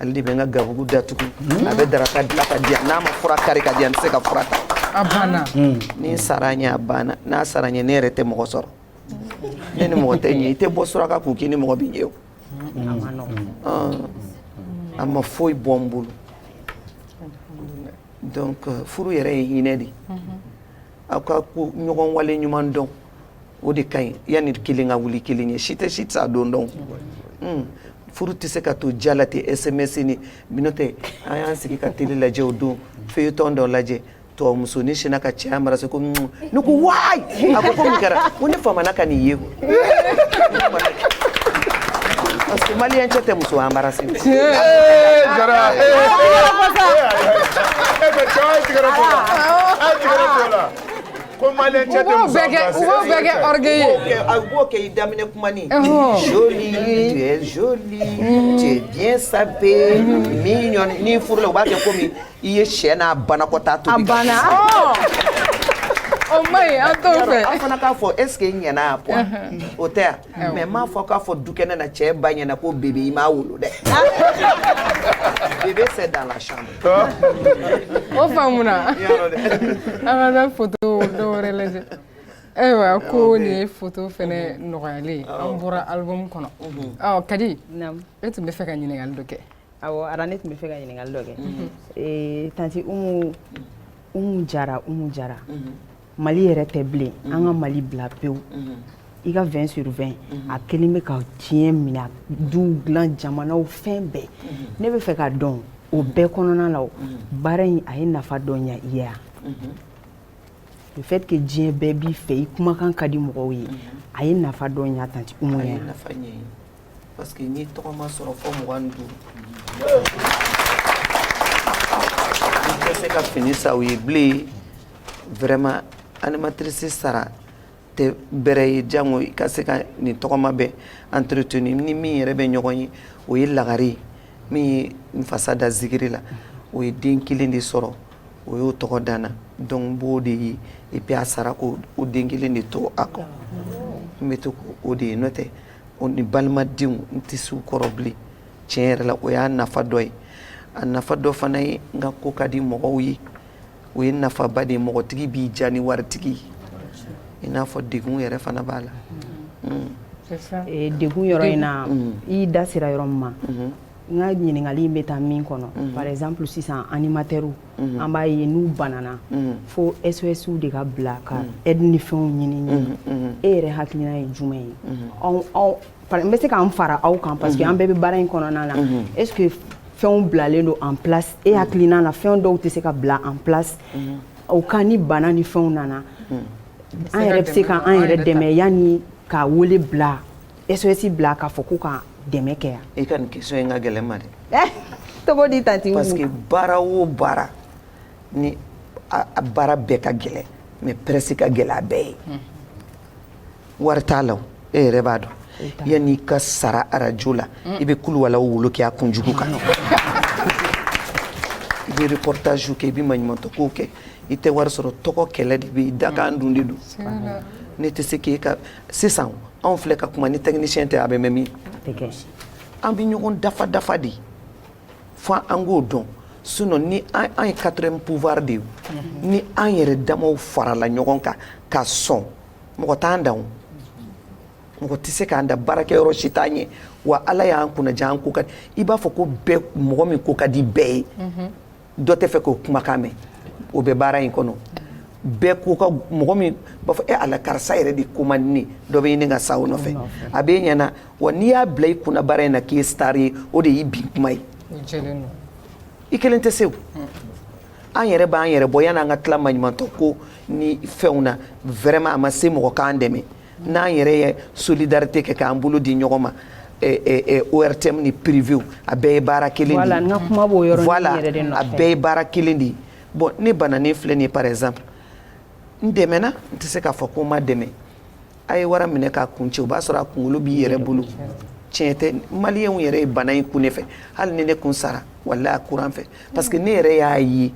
ale de bɛ n ka gabugu datugu a bɛ daraka dilan ka di yan n'a ma fura kari ka di yan n tɛ se ka fura ta a banna ni n sara a ɲɛ a banna n'a sara n ɲɛ ne yɛrɛ tɛ mɔgɔ sɔrɔ ne ni mɔgɔ tɛ ɲɛ i tɛ bɔ suraka kun k'i ni mɔgɔ bɛ ɲɛ o Ɔn. a ma foyi bɔ n bolo donc euh, furu yɛrɛ ye hinɛ de ye aw ka ɲɔgɔn wale ɲuman dɔn o de ka ɲi yanni kelen ka wuli kelen ɲɛ si tɛ si sa don dɔn hmm. furu tɛ se ka to diya la ten sms ni minnu tɛ an y'an sigi ka télé lajɛ o don feuilleton dɔ lajɛ tubabu muso ni sinna k'a cɛ embrasser ko hmm. ne ko waayi a ko ko mun kɛra ko ne famana ka nin ye ko parce que maliyɛn cɛ tɛ muso embrasser jara e bɛ cɛ tigɛra ko la a tigɛra ko la Ko ma cɛ bɛɛ kɛ a b'o kɛ i daminɛ kuma ni cɛ sa ni furu u b'a kɛ komi i ye sɛ n'a banakɔta to banna an fana k'a fɔ eseke ɲɛna o tɛ mais n m'a fɔ k'a fɔ dukɛnɛ na cɛ ba ɲɛ na ko bébé i m'a wolo dɛ bébé c'est dans la chambre o faamuna an ka taa foto dɔ wɛrɛ lajɛ ayiwa ko nin ye foto fɛnɛ nɔgɔyalen an bɔra album kɔnɔ ɔ kadi e tun bɛ fɛ ka ɲininkali dɔ kɛ awɔ ara ne tun bɛ fɛ ka ɲininkali dɔ kɛ tanti umu umu jara umu jara mali yɛrɛ tɛ bilen an ka mali bila pewu i ka 20 sur 20 a kelen bɛ ka diɲɛ minɛ duw dilan jamanaw fɛn bɛɛ ne bɛ fɛ ka dɔn o bɛɛ kɔnɔna la o baara in a ye nafa dɔ ɲɛ i ye wa le fait que diɲɛ bɛɛ b'i fɛ i kumakan ka di mɔgɔw ye a ye nafa dɔ ɲɛ tanti umu ye a ye nafa ɲɛ n ye parce que n'i tɔgɔma sɔrɔ fɔ mugan ni duuru i tɛ se ka fini san u ye bilen vraiment animatrice sara tɛ bɛrɛ ye jango i ka se ka nin tɔgɔma bɛɛ entretenu ni min yɛrɛ bɛ ɲɔgɔn ye o ye lagare min ye n fasa da zikiri la o ye den kelen de sɔrɔ o y'o tɔgɔ da n na donc n b'o de ye et puis a sara k'o den kelen de to a kɔ n bɛ to o de ye n'o tɛ o ni balimadenw n tɛ s'u kɔrɔ bilen tiɲɛ yɛrɛ la o y'a nafa dɔ ye a nafa dɔ fana ye n ka ko ka di mɔgɔw ye o ye nafaba de ye mɔgɔtigi b'i ja ni waritigi i n'a fɔ degun yɛrɛ fana b'a la degun yɔrɔ in na i da sera yɔrɔ min ma n ka ɲininkali in bɛ taa min kɔnɔ par exemple sisan animateurw an b'a ye n'u banana fo SOS de ka bila ka aide ni fɛnw ɲini e yɛrɛ hakilina ye jumɛn ye n bɛ se ka n fara aw kan parce que an bɛɛ bɛ baara in kɔnɔna na est ce que fɛnw bilalen don en place e hakilina na fɛn dɔw tɛ se ka bila en place au cas ni bana ni fɛnw nana an yɛrɛ bɛ se ka an yɛrɛ dɛmɛ yanni ka wele bila SOS bila k'a fɔ ko ka dɛmɛ kɛ yan. I ka nin question in ka gɛlɛn n ma dɛ. Eh, cogo di tanti Parce que baara o baara ni a baara bɛɛ ka gɛlɛn mais presse ka gɛlɛn n'a bɛɛ ye. wari t'a la e yɛrɛ b'a dɔn yanni i ka sara arajo la i bɛ kuluwalaw wolo kɛ a kunjugu kan i bɛ reportage kɛ i bɛ maɲumantɔ kow kɛ i tɛ wari sɔrɔ tɔgɔ kɛlɛ de bɛ yen dakan dun de don ne tɛ se k'e ka sisan anw filɛ ka kuma ni technicien tɛ a bɛ mɛn min an bɛ ɲɔgɔn dafa dafa de fo an k'o dɔn sinon ni an ye quatrième pouvoir de ye ni an yɛrɛ damaw farala ɲɔgɔn kan ka sɔn mɔgɔ t'an dan mɔgɔ tɛ se k'an da baarakɛyɔrɔ si t'an ye wa ala y'an kunnaja an ko ka i b'a fɔ ko bɛɛ mɔgɔ min ko ka di bɛɛ ye dɔ tɛ fɛ k'o kumakan mɛn o bɛ baara in kɔnɔ bɛɛ ko ka mɔgɔ min b'a fɔ e ala karisa yɛrɛ de ko man di dɔ bɛ ɲini ka sa o nɔfɛ a bɛ ɲɛna wa n'i y'a bila i kunna baara in na k'i ye star ye o de y'i bin kuma ye i kelen tɛ se o an yɛrɛ b'an yɛrɛ bɔ yan'an ka tila maɲumantɔ ko ni fɛnw na vraiment a ma se mɔgɔ k'an dɛmɛ n'an yɛrɛ ye solidarité kɛ k'an bolo di ɲɔgɔn ma ORTM ni privé a bɛɛ ye baara kelen de ye voilà a bɛɛ ye baara kelen de ye bon ne bananen filɛ nin ye par exemple n dɛmɛna n tɛ se k'a fɔ ko n ma dɛmɛ a ye wara minɛ k'a kun cɛ o b'a sɔrɔ a kunkolo b'i yɛrɛ bolo tiɲɛ tɛ maliyɛnw yɛrɛ ye bana in kun ne fɛ hali ni ne kun sara walahi a kuran fɛ parce que ne yɛrɛ y'a ye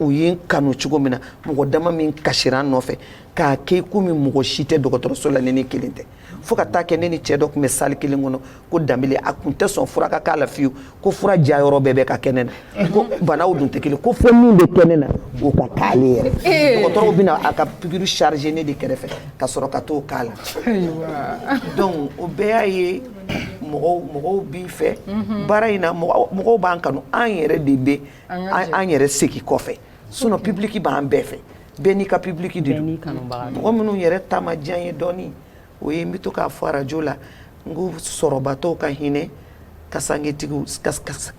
u ye n kanu cogo min na mɔgɔ dama min kasira n nɔfɛ k'a kɛ komi mɔgɔ si tɛ dɔgɔtɔrɔso la ni ne kelen tɛ fo ka taa kɛ ne ni cɛ dɔ tun bɛ salle kelen kɔnɔ ko danbele a kun tɛ sɔn fura ka k'a la fiyewu ko fura jayɔrɔ bɛɛ bɛ ka kɛ ne na ko banaw dun tɛ kelen ko fo min bɛ kɛ ne na o ka k'ale yɛrɛ dɔgɔtɔrɔw bɛ na a ka pikiri charger ne de kɛrɛfɛ ka sɔrɔ ka t'o k'a la donc o bɛɛ y'a ye mɔgɔw b'i fɛ mhm. baara in na mɔgɔw b'an kanu an yɛrɛ de bɛ an yɛrɛ segin kɔfɛ sinon public b'an bɛɛ fɛ bɛɛ n'i ka public de don mɔgɔ minnu yɛrɛ ta ma diya n ye dɔɔni o ye n bɛ to k'a fɔ arajo la n ko sɔrɔbatɔw ka hinɛ kasangetigiw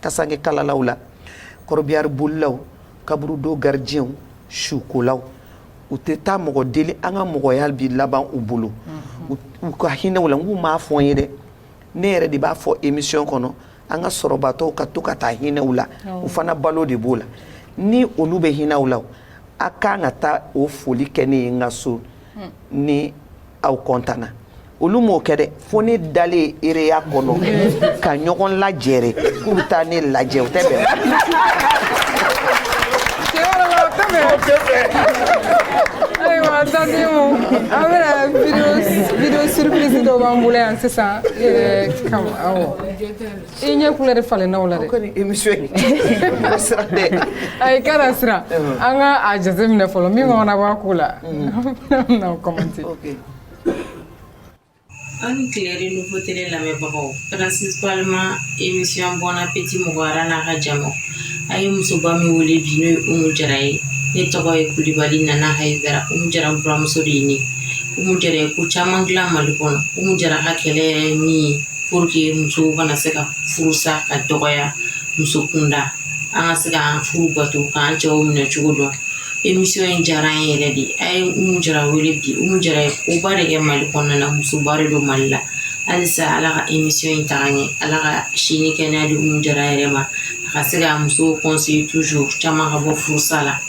kasange kalalaw la kɔrɔbiyari bolilaw kaburudo garidiɲɛw sukolaw u tɛ taa mɔgɔ deli an ka mɔgɔya bi laban u bolo u ka hinɛ u la nk'u m'a fɔ n ye dɛ ne yɛrɛ de b'a fɔ emisiyɔn kɔnɔ an ka sɔrɔbatɔw ka to ka taa hinɛ u la u fana balo de b'o la ni olu bɛ hinɛ u la a kan ka taa o foli kɛ ne ye n ka so ni aw kɔntanna olu m'o kɛ dɛ fo ne dalen ereya kɔnɔ ka ɲɔgɔn lajɛrɛ k'u bɛ taa ne lajɛ o tɛ bɛn ayiwa tanti umu an bɛna video surprise dɔ b'an bolo yan sisan i yɛrɛ kama awɔ i ɲɛ kulɛri falenna o la dɛ ayi kana siran an ka a jateminɛ fɔlɔ min kɔnɔna b'a ko la an bɛna commenter aw ni tile renouveau télé lamɛnbagaw principalement émission bon appétit mɔgɔyara n'a ka jama a ye musoba min wele bi n'o ye umu jara ye ne tɔgɔ ye kulibali nana hayidara umu jara buramuso de ye ne umu jara ye ko caman dilan mali kɔnɔ umu jara ka kɛlɛ min ye pour que musow kana se ka furusa ka dɔgɔya muso kunda an ka se ka an furu bato k'an cɛw minɛ cogo dɔn emisiyɔn in diyara an yɛrɛ de a ye umu jara wele bi umu jara ye koba de kɛ mali kɔnɔna na musoba de don mali la halisa ala ka emisiyɔn in taga ɲɛ ala ka si ni kɛnɛya di umu jara yɛrɛ ma a ka se ka musow conseiller toujours caman ka bɔ furusa la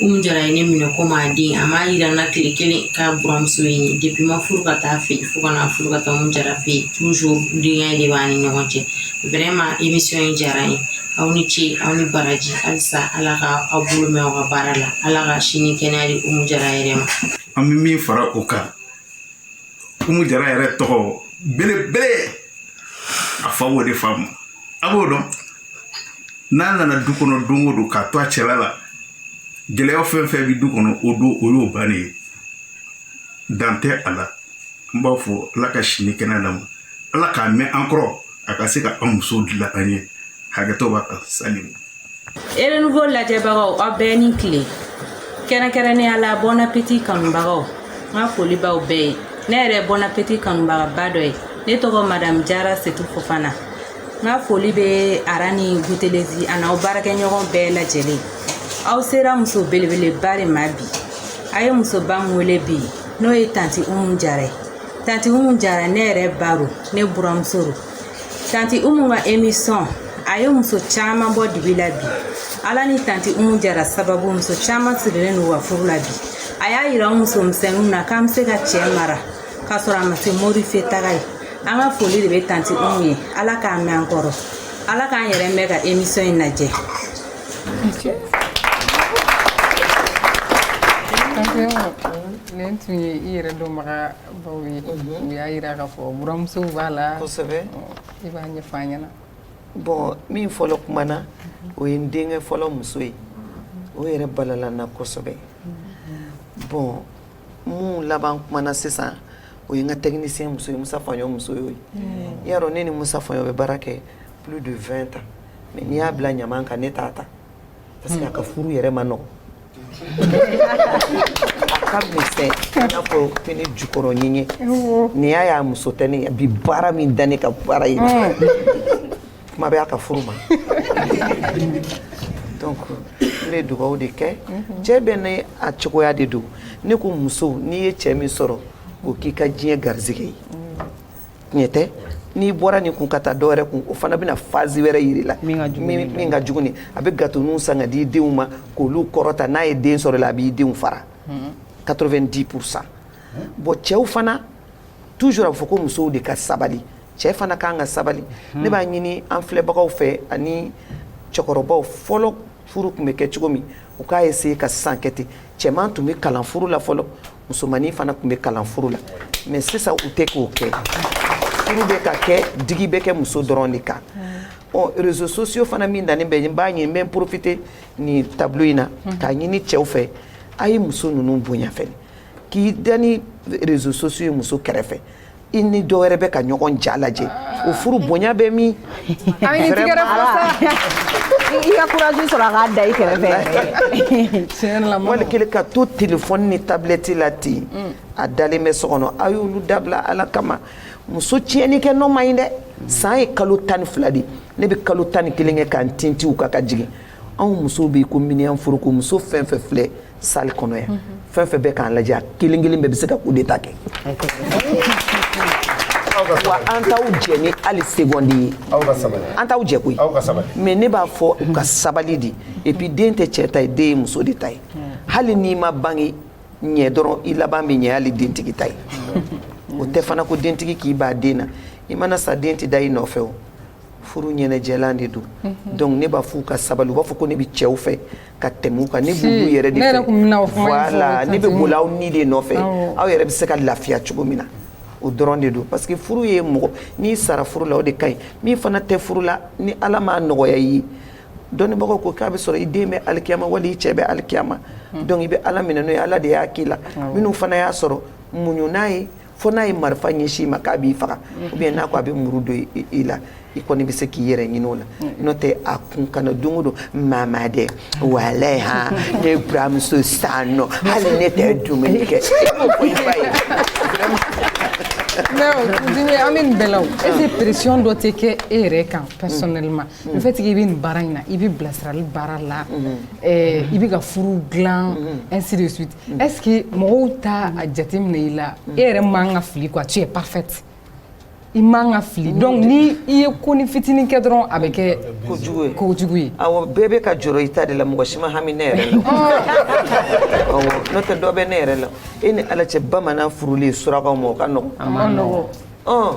Umu Jara ye ne minɛ komi a den a m'a yira n na tile kelen k'a buramuso ye n ye depuis n ma furu ka taa a fɛ yen fo ka na furu ka taa Umu Jara fɛ yen denya in de b'an ni ɲɔgɔn cɛ vraiment emisiyɔn in diyara n ye aw ni ce aw ni baraji halisa Ala ka aw bolo mɛn aw ka baara la Ala ka si ni kɛnɛya di Umu Jara yɛrɛ ma an bɛ min fara o kan umu jara yɛrɛ tɔgɔ belebele a fa b'o de faamu a b'o dɔn n'a nana du kɔnɔ don o don k'a to a cɛla la gɛlɛya fɛn fɛn bɛ du kɔnɔ o don o y'o bannen ye dan tɛ a la n b'a fɔ ala ka si ni kɛnɛya d'a ma ala k'a mɛn an kɔrɔ a ka se ka an musow dilan an ye hakɛto b'a kan salamu Renouveau lajɛbagaw aw bɛɛ ni tile kɛrɛnkɛrɛnnenya la bon appétit kanubagaw n ka foli b'aw bɛɛ ye ne yɛrɛ bon appétit kanubagaba dɔ ye ne tɔgɔ madamu jara setu fofana n ka foli bɛ ara ni gutelezi ani aw baarakɛɲɔgɔn bɛɛ lajɛlen aw sera muso belebeleba de ma bi a ye musoba min wele bi n'o ye tanti umu jara ye tanti umu jara ne yɛrɛ baro ne buramuso don tanti umu ka emisiyɔn a ye muso caman bɔ dibi la bi ala ni tanti umu jara sababu muso caman sigilen don u ka furu la bi a y'a yira an muso misɛnninw na k'an bɛ se ka cɛ mara k'a sɔrɔ a ma se mori fɛ taga ye an ka foli de bɛ tanti umu ye ala k'a mɛn an kɔrɔ ala k'an yɛrɛ mɛn ka emisiyɔn in lajɛ nin tun ye i yɛrɛ dɔnbaga baw ye mhm. u y'a jira k'a fɔ buramuso b'a la kosɛbɛ i b'a ɲɛfɔ an ɲɛna bon min fɔlɔ kumana mhm. o ye n denkɛ fɔlɔ muso ye o yɛrɛ balala n na kosɛbɛ mhm. bon min laban kumana sisan o ye n ka technicien muso ye musa faɲɔ muso ye i y'a dɔn ne ni musa faɲɔ bɛ baara kɛ plus de 20 ans mais n'i y'a bila ɲaman kan ne t'a ta parce que a ka furu yɛrɛ man nɔgɔ a ka misɛn i n'a fɔ fini jukɔrɔ ɲɛɲɛ nin y'a y'a muso tɛ ne bi baara min da ne ka baara ye kuma bɛ a ka furu ma donc n bɛ dugawu de kɛ cɛ bɛɛ n'a cogoya de don ne ko muso n'i ye cɛ min sɔrɔ o k'i ka diɲɛ garisigɛ ye ɲɛ tɛ n'i bɔra nin kun ka taa dɔwɛrɛ kun o fana bɛna fazi wɛrɛ jira i la min ka jugu a bɛ gatoninw san ka di denw ma k'olu kɔrɔta n'a ye den sɔrɔ i la a b'i denw fara quatre-vingt-dix pour cent bɔn cɛw fana toujours a bɛ fɔ ko musow de ka sabali cɛ fana ka kan ka sabali ne b'a ɲini an filɛbagaw fɛ ani cɛkɔrɔbaw fɔlɔ furu tun bɛ kɛ cogo min u k'a eseye ka sisan kɛ ten cɛman tun bɛ kalan furu la fɔlɔ musomannin fana tun bɛ kalan furu la mɛ sisan u tɛ k'o kɛ furu bɛ ka kɛ digi bɛ kɛ muso dɔrɔn de kan ɔ rezo sosiyo fana min dannen bɛ n b'a ɲini n bɛ n porofite nin tablo in na k'a ɲini cɛw fɛ a ye muso ninnu bonya fɛnɛ k'i da ni rezo sosiyo ye muso kɛrɛfɛ i ni dɔ wɛrɛ bɛ ka ɲɔgɔn ja lajɛ o furu bonya bɛ min i ka kuraji sɔrɔ a k'a da i kɛrɛfɛ wali kelen ka to telefɔni ni tabilɛti la ten mm. a dalen bɛ so kɔnɔ a y'olu dabila ala kama muso tiɲɛni kɛ nɔ man ɲi dɛ san ye kalo tan ni fila de ne bɛ kalo tan ni kelen kɛ ka n tintin u kan ka jigin anw musow bɛ yen ko minɛn furuko muso fɛn fɛn filɛ salle kɔnɔ yan fɛn fɛn bɛ k'an lajɛ a kelen kelen bɛɛ bɛ se ka coup d'état kɛ wa an t'aw jɛ ni hali seconde ye an t'aw jɛ koyi mais ne b'a fɔ u ka sabali de et puis den tɛ cɛ ta ye den ye muso de ta ye hali n'i ma bange ɲɛ dɔrɔn i laban bɛ ɲɛ hali dentigi ta ye o tɛ fana ko dentigi k'i b'a den na i mana sa den tɛ da i nɔfɛ o furu ɲɛnajɛlan de don mhm. donc ne b'a f'u ka sabali u b'a fɔ ko ne bɛ cɛw fɛ ka tɛmɛ u kan ne b'olu yɛrɛ de fɛ voilà ne bɛ boli aw ni de nɔfɛ aw yɛrɛ bɛ se ka lafiya cogo min na o dɔrɔn de don parce que furu ye mɔgɔ n'i sara furu la o de ka ɲi min fana tɛ furu la ni ala m'a nɔgɔya i ye dɔnnibagaw ko k'a bɛ sɔrɔ i den bɛ alikiyama wali i cɛ bɛ alikiyama mhm. donc i bɛ ala minɛ n'o ye ala de y'a k'i la minnu fana y'a sɔrɔ muɲu n'a ye fo n'a ye marifa ɲɛsin i ma k'a b'i faga mm. oubien n'a ko a bɛ muru don i la i kɔni bɛ se k'i yɛrɛ ɲini o la mm. n'o tɛ a kun kana don o don mama dɛ walayi han ne buramuso san nɔ hali ne tɛ dumuni kɛ e m'o fɔ i ba ye mais Dine an bɛ nin bɛɛ la o est ce que pression dɔ tɛ kɛ e yɛrɛ kan personnellement mm. le fait que i bɛ nin baara in na i bɛ bilasirali baara la i bɛ ka furu dilan ainsi de suite Est-ce que mɔgɔw t'a jateminɛ i la e yɛrɛ man ka fili quoi tu es parfaite i man ka fili donc ni i ye konin fitinin kɛ dɔrɔn a bɛ kɛ kojugu ye kojugu ye awɔ bɛɛ bɛ ka jɔrɔ i ta de la mɔgɔ si ma hami ne yɛrɛ la awɔ n'o tɛ dɔ bɛ ne yɛrɛ la e ni ala cɛ bamanan furulen surakaw ma o ka nɔgɔn a man nɔgɔn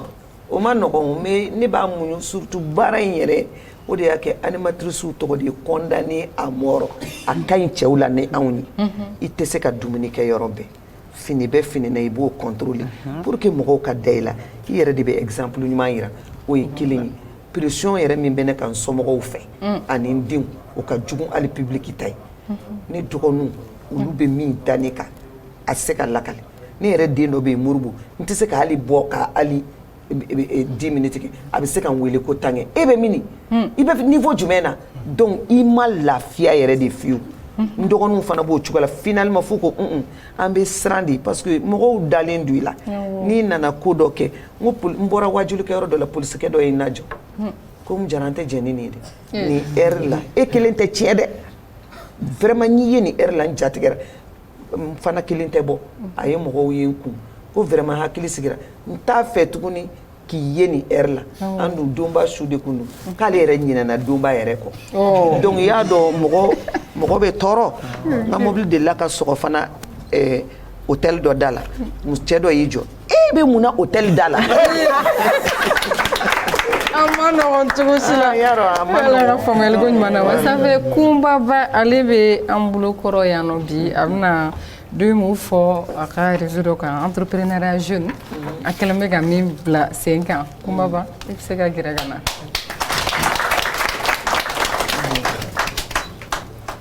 O ma nɔgɔn mais ne b'a muɲun surtout baara in yɛrɛ o de y'a kɛ animatrice tɔgɔ de ye condamné à mort a ka ɲi cɛw la ni anw ye, unhun, i tɛ se ka dumuni kɛ yɔrɔ bɛɛ fini bɛ fini na i b'o contrôler pour que mɔgɔw ka da i la i yɛrɛ de bɛ exemple ɲuman yira o ye kelen ye pression yɛrɛ min bɛ ne kan n somɔgɔw fɛ ani n denw o ka jugu hali public ta ye ne dɔgɔninw olu bɛ min da ne kan a tɛ se ka lakale ne yɛrɛ den dɔ bɛ yen Moribo n tɛ se ka hali bɔ ka hali 10 minutes kɛ a bɛ se ka n weele ko tankɛ e bɛ mini i bɛ niveau jumɛn na donc i ma lafiya yɛrɛ de fiyewu n dɔgɔninw fana b'o cogo la finalement fo ko un an bɛ siran de parce que mɔgɔw dalen don i la n'i nana ko dɔ kɛ n ko n bɔra wajulikɛyɔrɔ dɔ la polisikɛ dɔ ye n lajɔ ko n jara n tɛ jɛn ni nin ye dɛ nin heure la e kelen tɛ tiɲɛ dɛ vraiment n'i ye nin heure la n jatigɛ fana kelen tɛ bɔ a ye mɔgɔw ye n kun ko vraiment hakili sigira n t'a fɛ tuguni k'i ye nin heure la an dun donba su de kun don k'ale yɛrɛ ɲinɛna donba yɛrɛ kɔ donc i y'a dɔn mɔgɔ bɛ tɔɔrɔ n ka mobili delila ka sɔgɔ fana hôtel dɔ da la cɛ dɔ y'i jɔ e bɛ mun na hôtel da la a ma nɔgɔn cogo si la ala ka faamuyali ko ɲuman na wa sanfɛ Kumba Ba ale bɛ an bolo kɔrɔ yan nɔ bi a bɛna deux mots fɔ a ka réseau dɔ kan entrepreneuriat jeune mm-hmm. a kɛlen bɛ ka min bila sen kan Kumba Ba i bɛ se ka gɛrɛ ka na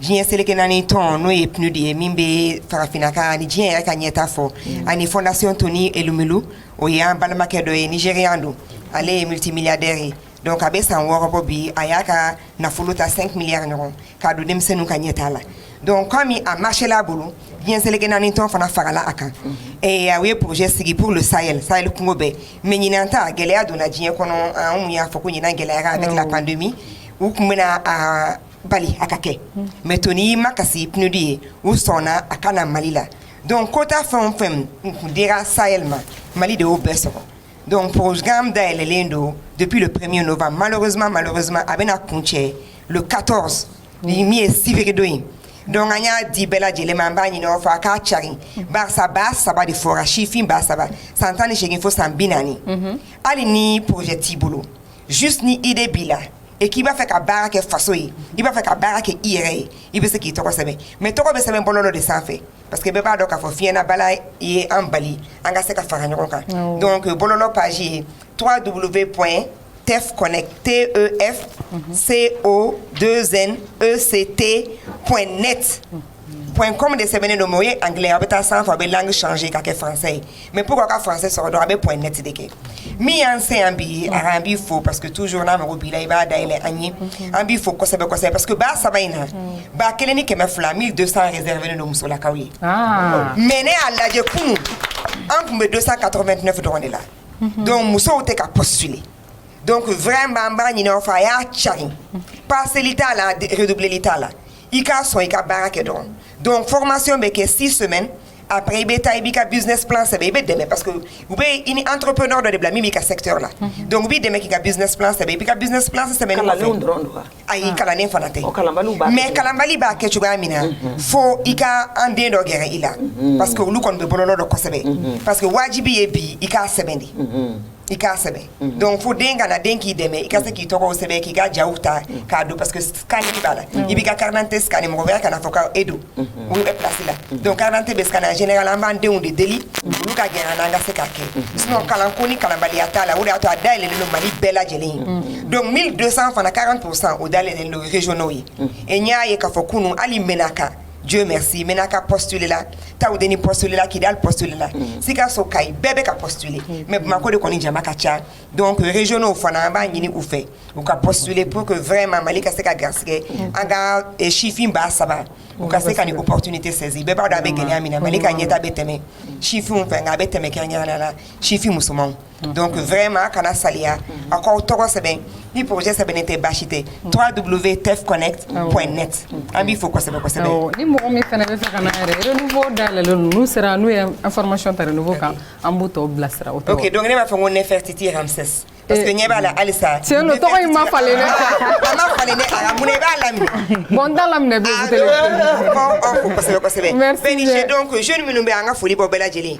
diɲɛ seleke naani tɔn n'o ye PNUD ye min bɛ farafinna ka ni diɲɛ yɛrɛ ka ɲɛtaa fɔ ani fondation Tony Elumelu o ye an balimakɛ dɔ ye Nigérian don ale ye multimilliardaire ye donc a bɛ san wɔɔrɔ bɔ bi a y'a ka nafolo ta 5 milliards ɲɔgɔn k'a don denmisɛnninw ka ɲɛtaa la donc komi a marché la a bolo diɲɛ seleke naani tɔn fana farala a kan ɛɛ u ye projet sigi pour le Sahel Sahel kungo bɛɛ mais ɲinan ta gɛlɛya donna diɲɛ kɔnɔ an kun y'a fɔ ko ɲinan gɛlɛyara avec la pandémie u kun bɛna a bali a ka kɛ mais Tony makasi PNUD ye u sɔnna a ka na Mali la donc quota fɛn o fɛn kun dira Sahel ma Mali de y'o bɛɛ sɔrɔ donc programme dayɛlɛlen don depuis le 1er novembre malheureusement malheureusement a bɛna kuncɛ le 14 ni min ye sibiridon ye donc an y'a di bɛɛ lajɛlen ma an b'a ɲini aw fɛ a k'a carin barisa baa saba de fɔra sifin baa saba san tan ni segin fo san bi naani hali ni projet t'i bolo juste ni idée b'i la et k'i b'a fɛ ka baara kɛ faso ye i b'a fɛ ka baara kɛ i yɛrɛ ye i bɛ se k'i tɔgɔ sɛbɛn mais tɔgɔ bɛ sɛbɛn bɔlɔlɔ de sanfɛ parce que bɛɛ b'a dɔn k'a fɔ fiɲɛnabana ye an bali an ka se ka fara ɲɔgɔn kan donc bɔlɔlɔ page ye 3 w point tef connect t e f c o 2 n e c t point net point com de sɛbɛnnen don mais o ye anglais aw bɛ taa sanfɛ aw bɛ langue changer ka kɛ français ye mais pour k'aw ka français sɔrɔ dɔrɔn a bɛ point net de kɛ min y'an se yan bi a an b'i fo parce que toujours n'a mago b'i la i b'a dayɛlɛ an ye an b'i fo kosɛbɛ kosɛbɛ parce que ba saba in na ba kelen ni kɛmɛ fila 1200 réservé don musolakaw ye ah. mais ne y'a lajɛ kunun an tun bɛ 289 dɔrɔn de la mhm. donc musow tɛ ka postuler donc vraiment an b'a ɲini aw fɛ a y'a cari paseli t'a la redoubleli t'a la I ka sɔn i ka baara kɛ dɔrɔn donc formation bɛ kɛ six semaines après i bɛ taa i b'i ka business plan sɛbɛn i bɛ dɛmɛ parce que u bɛ i ni entrepreneur dɔ de bila min b'i ka secteur la mhm. donc u b'i dɛmɛ k'i ka business plan sɛbɛn i b'i ka business plan sɛbɛn kalanlenw dɔrɔn don wa ayi ah. kalannen fana tɛ mais kalanbali b'a kɛ cogoya min na mhm. fo i ka an den dɔ gɛrɛ i la mhm. parce que olu kɔni bɛ bɔlɔlɔ dɔn kosɛbɛ parce que wajibi ye bi i k'a sɛbɛn de i k'a sɛbɛn dɔnku fo den kana den k'i dɛmɛ i ka se k'i tɔgɔ sɛbɛn k'i ka ja ta k'a don paseke kan b'a la i b'i ka karante sani mɔgɔya kana fɔ k' e don kasi la dɔn karante bɛ san jɛnɛka an b'an denw de deli olu ka gɛlɛn an ka se ka kɛ s kalan ko ni kalabaliya t'a la o y'a to a day don mali bɛɛ lajɛlen ye don mi don san fana ka kan t'o san o dalen donzɔnw ye e y'a ye k'a fɔ kunun hali mɛn kan Dieu merci Menaka postuler la Taoudeni postuler la Kidal postuler la Sikaso Kayi bɛɛ bɛ ka postuler mais Bamakɔ de kɔni jama ka ca donc régionw fana an b'a ɲini u fɛ u ka postuler pour que vraiment Mali ka se ka garisɛgɛ an ka sifin ba saba u ka se ka nin opportunité saisir bɛɛ b'a dɔn a bɛ gɛlɛya min na Mali ka ɲɛtaa bɛ tɛmɛ sifinw fɛ nka a bɛ tɛmɛ kɛrɛnkɛrɛnnenya la sifin musomanw donc vraiment kana saliya a k'aw tɔgɔ sɛbɛn ni projet sɛbɛnnen tɛ baasi tɛ www.tefconnect.net an b'i fo kosɛbɛ kosɛbɛ ni mɔgɔ min fana bɛ fɛ ka na yɛrɛ renouveau dayɛlɛlen don n'u sera n'u ye information ta renouveau kan an b'u tɔw bilasira o tɔgɔ ok donc ne b'a fɔ ko Nefertiti Ramsès parce que ɲɛ b'a la halisa tiɲɛ don tɔgɔ in ma falen dɛ a ma falen dɛ a mun na i b'a laminɛ bon n t'a laminɛ bilen an b'aw fo kosɛbɛ kosɛbɛ merci bɛɛ ni ce donc jeune minnu bɛ an ka foli b'u bɛɛ lajɛlen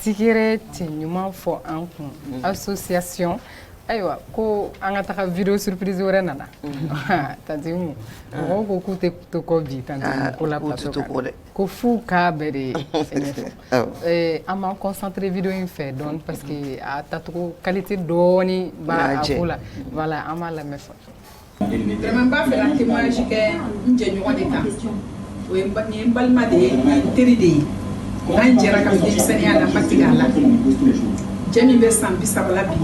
Tɛgɛrɛ cɛ ɲuman fɔ an kun association ayiwa ko an ka taga vidéo surprise wɛrɛ nana tanti Mu mɔgɔw ko k'u tɛ to kɔ bi tanti Mu ko la dɛ ko f'u k'a bɛɛ de ye an b'an concentrer vidéo in fɛ dɔɔni parce que a tacogo qualité dɔɔni b'a ko la voilà an b'a lamɛn Vraiment n b'a fɛ ka témoignage kɛ n jɛɲɔgɔn de kan o ye nin ye n balima de ye n teri de ye an jɛra ka denmisɛnninya la n ma tigɛ a la jɛ min bɛ san bi saba la bi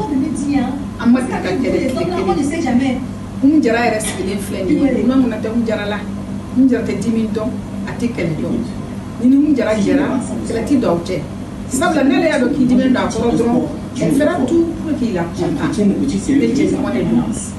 an ma deli ka kɛlɛ tile kelen n jara yɛrɛ sigilen filɛ nin ye ŋuna tɛ n jara la n jara tɛ dimi dɔn a tɛ kɛlɛ dɔn n'i ni n jara jɛra kɛlɛ tɛ don aw cɛ sabula n'ale y'a dɔn k'i diminen don a kɔrɔ dɔrɔn elle fera tout pour k'i la content ne jɛɲɔgɔn de don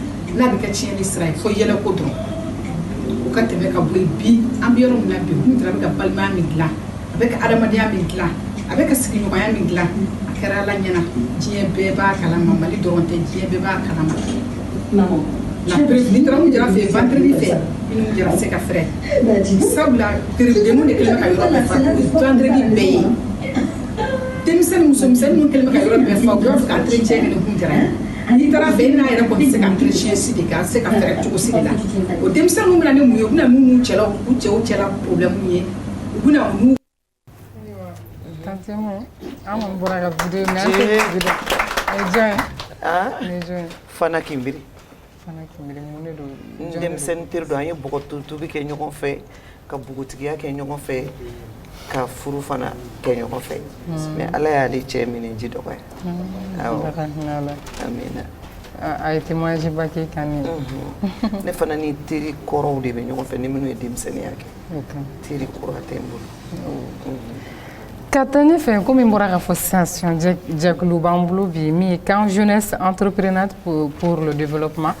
n'a bɛ kɛ tiɲɛni sira ye fo yɛlɛko dɔrɔn o ka tɛmɛ ka bɔ yen bi an bɛ yɔrɔ min na bi kun jara bɛ ka balimaya min dilan a bɛ ka adamadenya min dilan a bɛ ka sigiɲɔgɔnya min dilan a kɛra ala ɲɛna diɲɛ bɛɛ b'a kalama mali dɔrɔn tɛ diɲɛ bɛɛ b'a kalama n'i taara kun jara fɛ yen vendredi fɛ i ni kun jara se ka fɛrɛ sabula peredenw de kɛlen bɛ ka yɔrɔ bɛɛ fa vendredi bɛɛ ye denmisɛnnin musomisɛnnin ninnu kɛlen bɛ ka yɔrɔ bɛɛ fa u b'a fɛ ka entretien kɛ ni kun jara ye N'i taara fɛ i n'a yɛrɛ kɔni se ka entretien si de kɛ a se ka fɛrɛ cogo si de la o denmisɛnninw bɛna ni mun ye u bɛna n'u cɛla u cɛw cɛla problème ye u bɛna mun fana kimbiri n denmisɛnnin teri don an ye bɔgɔtobi kɛ ɲɔgɔn fɛ ka npogotigiya kɛ ɲɔgɔn fɛ ka furu fana kɛ ɲɔgɔn fɛ hmm. mais ala y'ale cɛ minɛ ji dɔgɔya hmm. a ye témoignage ba k'i kan hmm. ne fana ni teri kɔrɔw de bɛ ɲɔgɔn fɛ ni minnu ye denmisɛnninya kɛ teri kura tɛ n bolo ka taa ɲɛfɛ komi n bɔra k'a fɔ sisan jɛkulu b'an bolo bi min ye camp jeunesse entrepreneur pour le développement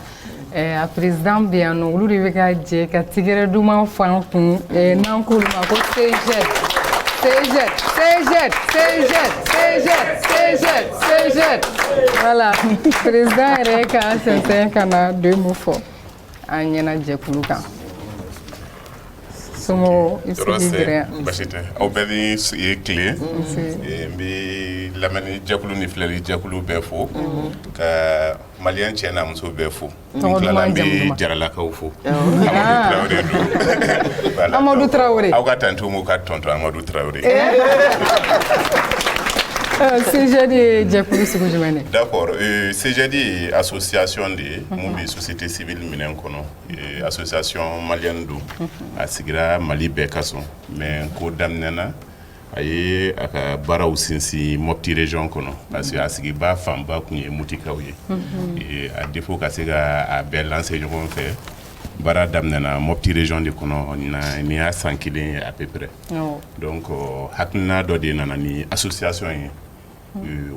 a président bɛ yan nɔ olu de bɛ ka jɛ ka tɛgɛrɛ duman fɔ an kun n'an k'olu ma ko CJED voilà président yɛrɛ ka sɛnsɛn ka na deux mots fɔ an ɲɛna jɛkulu kan so basi tɛ aw bɛɛ ni tile n bɛ lamɛnni jɛkulu ni filɛli jɛkulu bɛɛ fo ka Mali cɛ n'a muso bɛ fo bɛ jaralakaw fo amadu tarawele aw ka taa nto ka tɔn amadu tarawele sdi ye jɛkulu segu jumɛn da sɛdi a sososiyasonɔn de ye minnu bɛ sosi tɛ sibi minɛn kɔnɔ a sososiyasiyɔn mali don a sigira mali bɛɛ ka sɔn mɛ ko daminɛɛna a ye a ka baaraw sinsin moti région kɔnɔ parce que a sigibaa fanba tun ye mutikaw ye à défaut ka se ka a bɛɛ lancer ɲɔgɔn fɛ baara daminɛna moti région de kɔnɔ nin y'a san kelen ye à peu près donc hakilina dɔ de nana ni association ye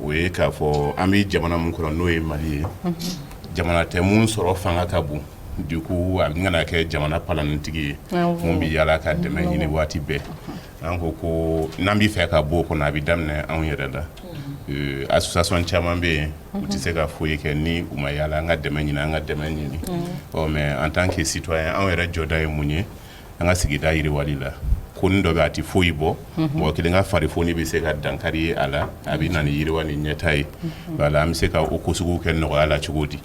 o ye k'a fɔ an bɛ jamana min kɔnɔ n'o ye mali ye jamana tɛ min sɔrɔ fanga ka bon du coup a bɛna kɛ jamana palannintigi ye min bɛ yaala ka dɛmɛ ɲini waati bɛɛ an ko ko n'an bɛ fɛ ka bɔ o kɔnɔ a bɛ daminɛ anw yɛrɛ la association caman bɛ yen u tɛ se ka foyi kɛ ni u ma yaala an ka dɛmɛ ɲini an ka dɛmɛ ɲini ɔ mais en tant que citoyen anw yɛrɛ jɔda ye mun ye an ka sigida yiriwali la ko ni dɔ bɛ a tɛ foyi bɔ mɔgɔ kelen ka fari foni bɛ se ka dankari ye a la a bɛ na ni yiriwa ni ɲɛta ye voilà an bɛ se ka o ko sugu kɛ nɔgɔya la cogo di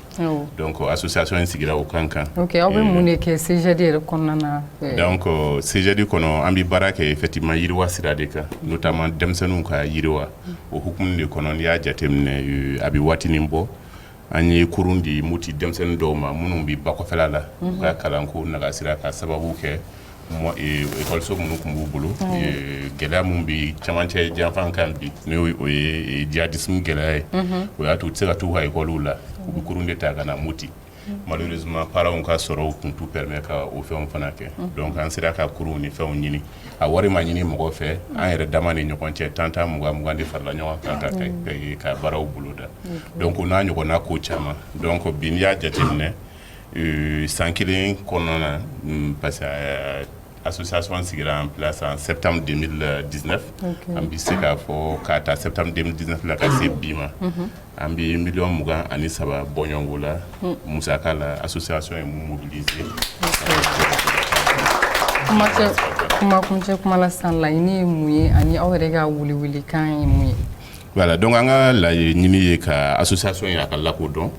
donc association in sigira o kan kan aw bɛ mun de kɛ CGD yɛrɛ kɔnɔna na donc CGD kɔnɔ an bɛ baara kɛ effectivement yiriwa sira de kan notamment denmisɛnninw ka yiriwa o hukumu de kɔnɔ n'i y'a jateminɛ a bɛ waatinin bɔ an ye kurun di muti denmisɛnnin dɔw ma minnu bɛ ba kɔfɛla la u ka kalanko nagasira ka sababu kɛ ekɔliso minnu tun b'u bolo gɛlɛya min bɛ camancɛ janfan kan bi n' o ye jihadisme gɛlɛya ye o y'a to u tɛ se ka taa u ka ekɔliw la u bɛ kurun de ta ka na muti malheureusement parentw ka sɔrɔ tun t'u permet ka o fɛn fana kɛ donc an sera ka kurun ni fɛnw ɲini a wari ma ɲini mɔgɔ fɛ an yɛrɛ dama ni ɲɔgɔn cɛ tan tan mugan mugan de farala ɲɔgɔn kan ka ka baaraw boloda donc o n'a ɲɔgɔnna ko caman donc bi n'i y'a jateminɛ san kelen kɔnɔna na parce que association sigira en place en septembre deux mille dix-neuf an bɛ se k'a fɔ k'a ta septembre deux mille dix-neuf la ka se bi ma an bɛ miliyɔn mugan ani saba bɔɲɔgɔnko la hmm. musaka la association ye mun mobiliser kumakuncɛ kuma la sisan laɲini ye mun ye ani aw yɛrɛ ka welewelekan ye mun ye voilà donc an ka laɲini ye ka association ye a ka lakodɔn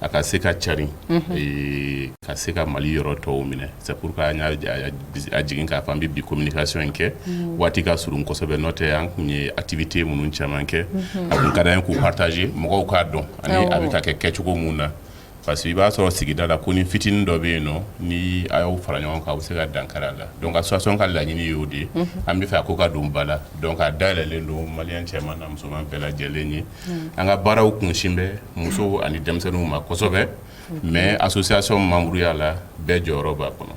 a ka se ka carin ka se ka mali yɔrɔ tɔw minɛ c'est pourquoi an y'a jigin k'a fɔ an bɛ bi communication in kɛ waati ka surun kɔsɔsɛbɛ n'o tɛ an kun ye activité minnu caman kɛ a kun ka d'an ye k'u partager mɔgɔw k'a dɔn ani a bɛ ka kɛ kɛcogo min na parce que i b'a sɔrɔ sigida la ko ni fitinin dɔ bɛ yen nɔ ni a y'aw fara ɲɔgɔn kan a bɛ se ka dankari a la donc association ka laɲini y'o de an bɛ fɛ a ko ka don ba la donc a dayɛlɛnlen don malien cɛman n'a musoman bɛɛ lajɛlen ye an ka baaraw kunsin bɛ musow ani denmisɛnninw ma kosɛbɛ mais association membreya la bɛɛ jɔyɔrɔ b'a kɔnɔ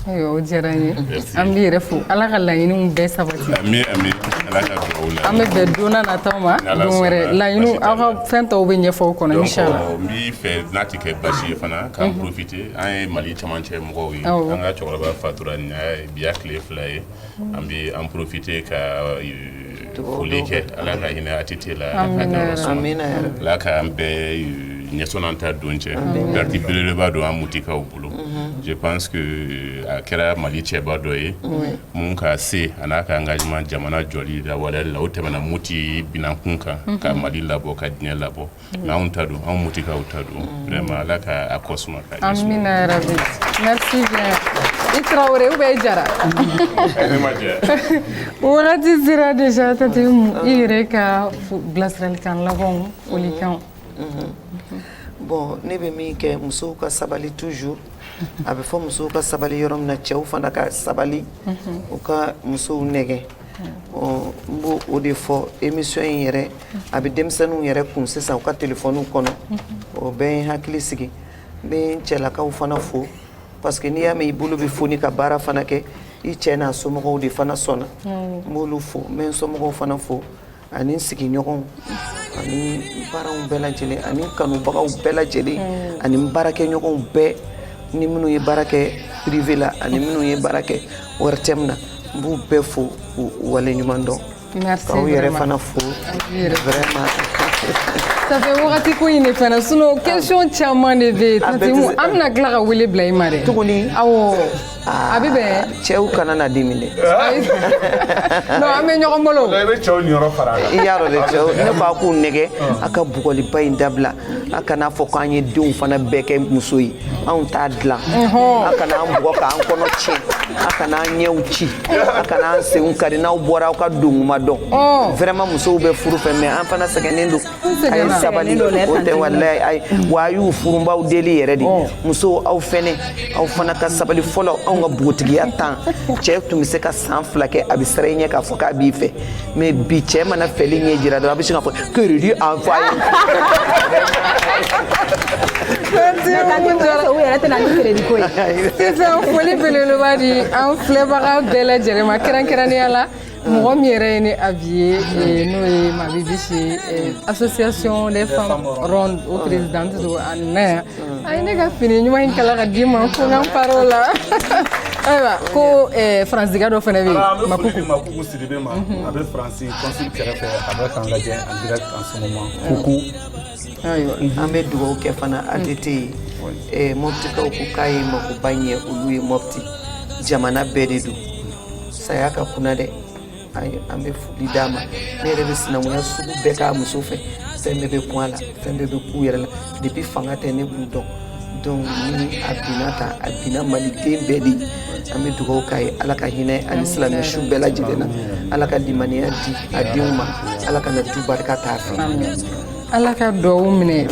o diyara an ye an b'i yɛrɛ fo ala ka laɲiniw bɛɛ sabati an bɛ bɛn don nata ma wɛrɛ laɲini aw ka fɛn tɔw bɛ ɲɛfɔ o kɔnɔ n b'i fɛ n'a tɛ kɛ basi ye fana k'an profiter an ye mali camancɛ mɔgɔw ye an ka cɛkɔrɔba fatura nin bi y'a tile fila ye an bɛ an profiter ka foli kɛ ala ka hinɛ ATT la ala k'an bɛɛ ɲɛsɔn an ta don c'est perte belebeleba don an mutikaw bolo je pense que a kɛra mali cɛba dɔ ye min ka se a n'a ka engagement jamana jɔli la walali la o tɛmɛna muti binankun kan ka mali labɔ ka diɲɛ labɔ Mais anw ta don anw mɔptikaw ta don vraiment ala ka a kɔ suma i tarawele ou bien i jara wagati sera déjà i yɛrɛ ka bilasiralikan laban folikan bon ne bɛ min kɛ musow ka sabali toujours a bɛ fɔ musow ka sabali yɔrɔ min na cɛw fana ka sabali u ka musow nɛgɛ n b' o de fɔ émission in yɛrɛ a bɛ denmisɛnninw yɛrɛ kun sisan u ka téléphonew kɔnɔ o bɛ n hakili sigi n bɛ n cɛlakaw fana fo parce que n'i y'a mɛn i bolo bɛ foni ka baara fana kɛ i cɛ n'a somɔgɔw de fana sɔnna n b'olu fo n bɛ n somɔgɔw fana fo ani sigiɲɔgɔnw ani baaraw bɛɛ lajɛlen ani kanubagaw bɛɛ lajɛlen ani baarakɛɲɔgɔnw bɛɛ ni minnu ye baara kɛ privé la ani minnu ye baara kɛ ORTM na n b'u bɛɛ fo k'u waleɲuman dɔn merci k'aw yɛrɛ fana fo vraiment ça fait wagati ko in de fana sinon question caman de bɛ yen tante umu an bɛna tila ka wele bila i ma dɛ tuguni awɔ a bɛ bɛn cɛw kana na dimi dɛ non an bɛ ɲɔgɔn bolo i bɛ cɛw niyɔrɔ fara a kan i y'a dɔn dɛ cɛw ne bɛ k'u nɛgɛn a ka bugɔliba in dabila a kana fɔ ko an ye denw fana bɛɛ kɛ muso ye anw t'a dilan a kana an bugɔ k'an kɔnɔ tiɲɛ a kana an ɲɛw ci a kana an senw kari n'aw bɔra aw ka dontuma dɔn vraiment musow bɛ furu fɛ mais an fana sɛgɛnnen don a ye sabali o tɛ walayi a ye wa a y'u furubaaw deli yɛrɛ de musow aw fɛnɛ aw fana ka sabali fɔlɔ anw ka bogotigiya tan cɛ tun bɛ se ka san fila kɛ a bɛ siran i ɲɛ k'a fɔ k'a b'i fɛ mais bi cɛ mana fɛli ɲɛ jira dɔrɔn a bɛ sin k'a fɔ crédit envoyer. u yɛrɛ tɛna ni crédit ko ye. sisan foli belebeleba di an filɛbaga bɛɛ lajɛlen ma kɛrɛnkɛrɛnnenya la. mɔgɔ min yɛrɛ ye ne habillé eh, n'o ye mabibi si eh, association des femmes rondes o présidente don a nana yan a ye ne ka fini ɲuman in kala k'a di n ma ko n ka n par'o la ayiwa ko eh, faransika dɔ fana bɛ yen an bɛ foli makuku di makuku sidibe ma a bɛ faransi consul kɛrɛfɛ a bɛ k'an lajɛ en direct en ce moment kuku ayiwa an bɛ dugawu kɛ fana ATT ye Eh, mɔptikaw ko k'a ye makoba ɲɛ olu ye mɔpti jamana bɛɛ de don saya ka kunan dɛ an bɛ foli d'a ma ne yɛrɛ bɛ sinankunya sugu bɛɛ k'a muso fɛ fɛn bɛɛ bɛ kun a la fɛn bɛɛ bɛ k'u yɛrɛ la depuis fanga tɛ ne b'u dɔn donc ni a binna tan a binna maliden bɛɛ de ye an bɛ dugawu k'a ye ala ka hinɛ ani silamɛ su bɛɛ lajɛlen na ala ka limaniya di a denw ma ala kana du barika t'a fɛ ala ka dugawu minɛ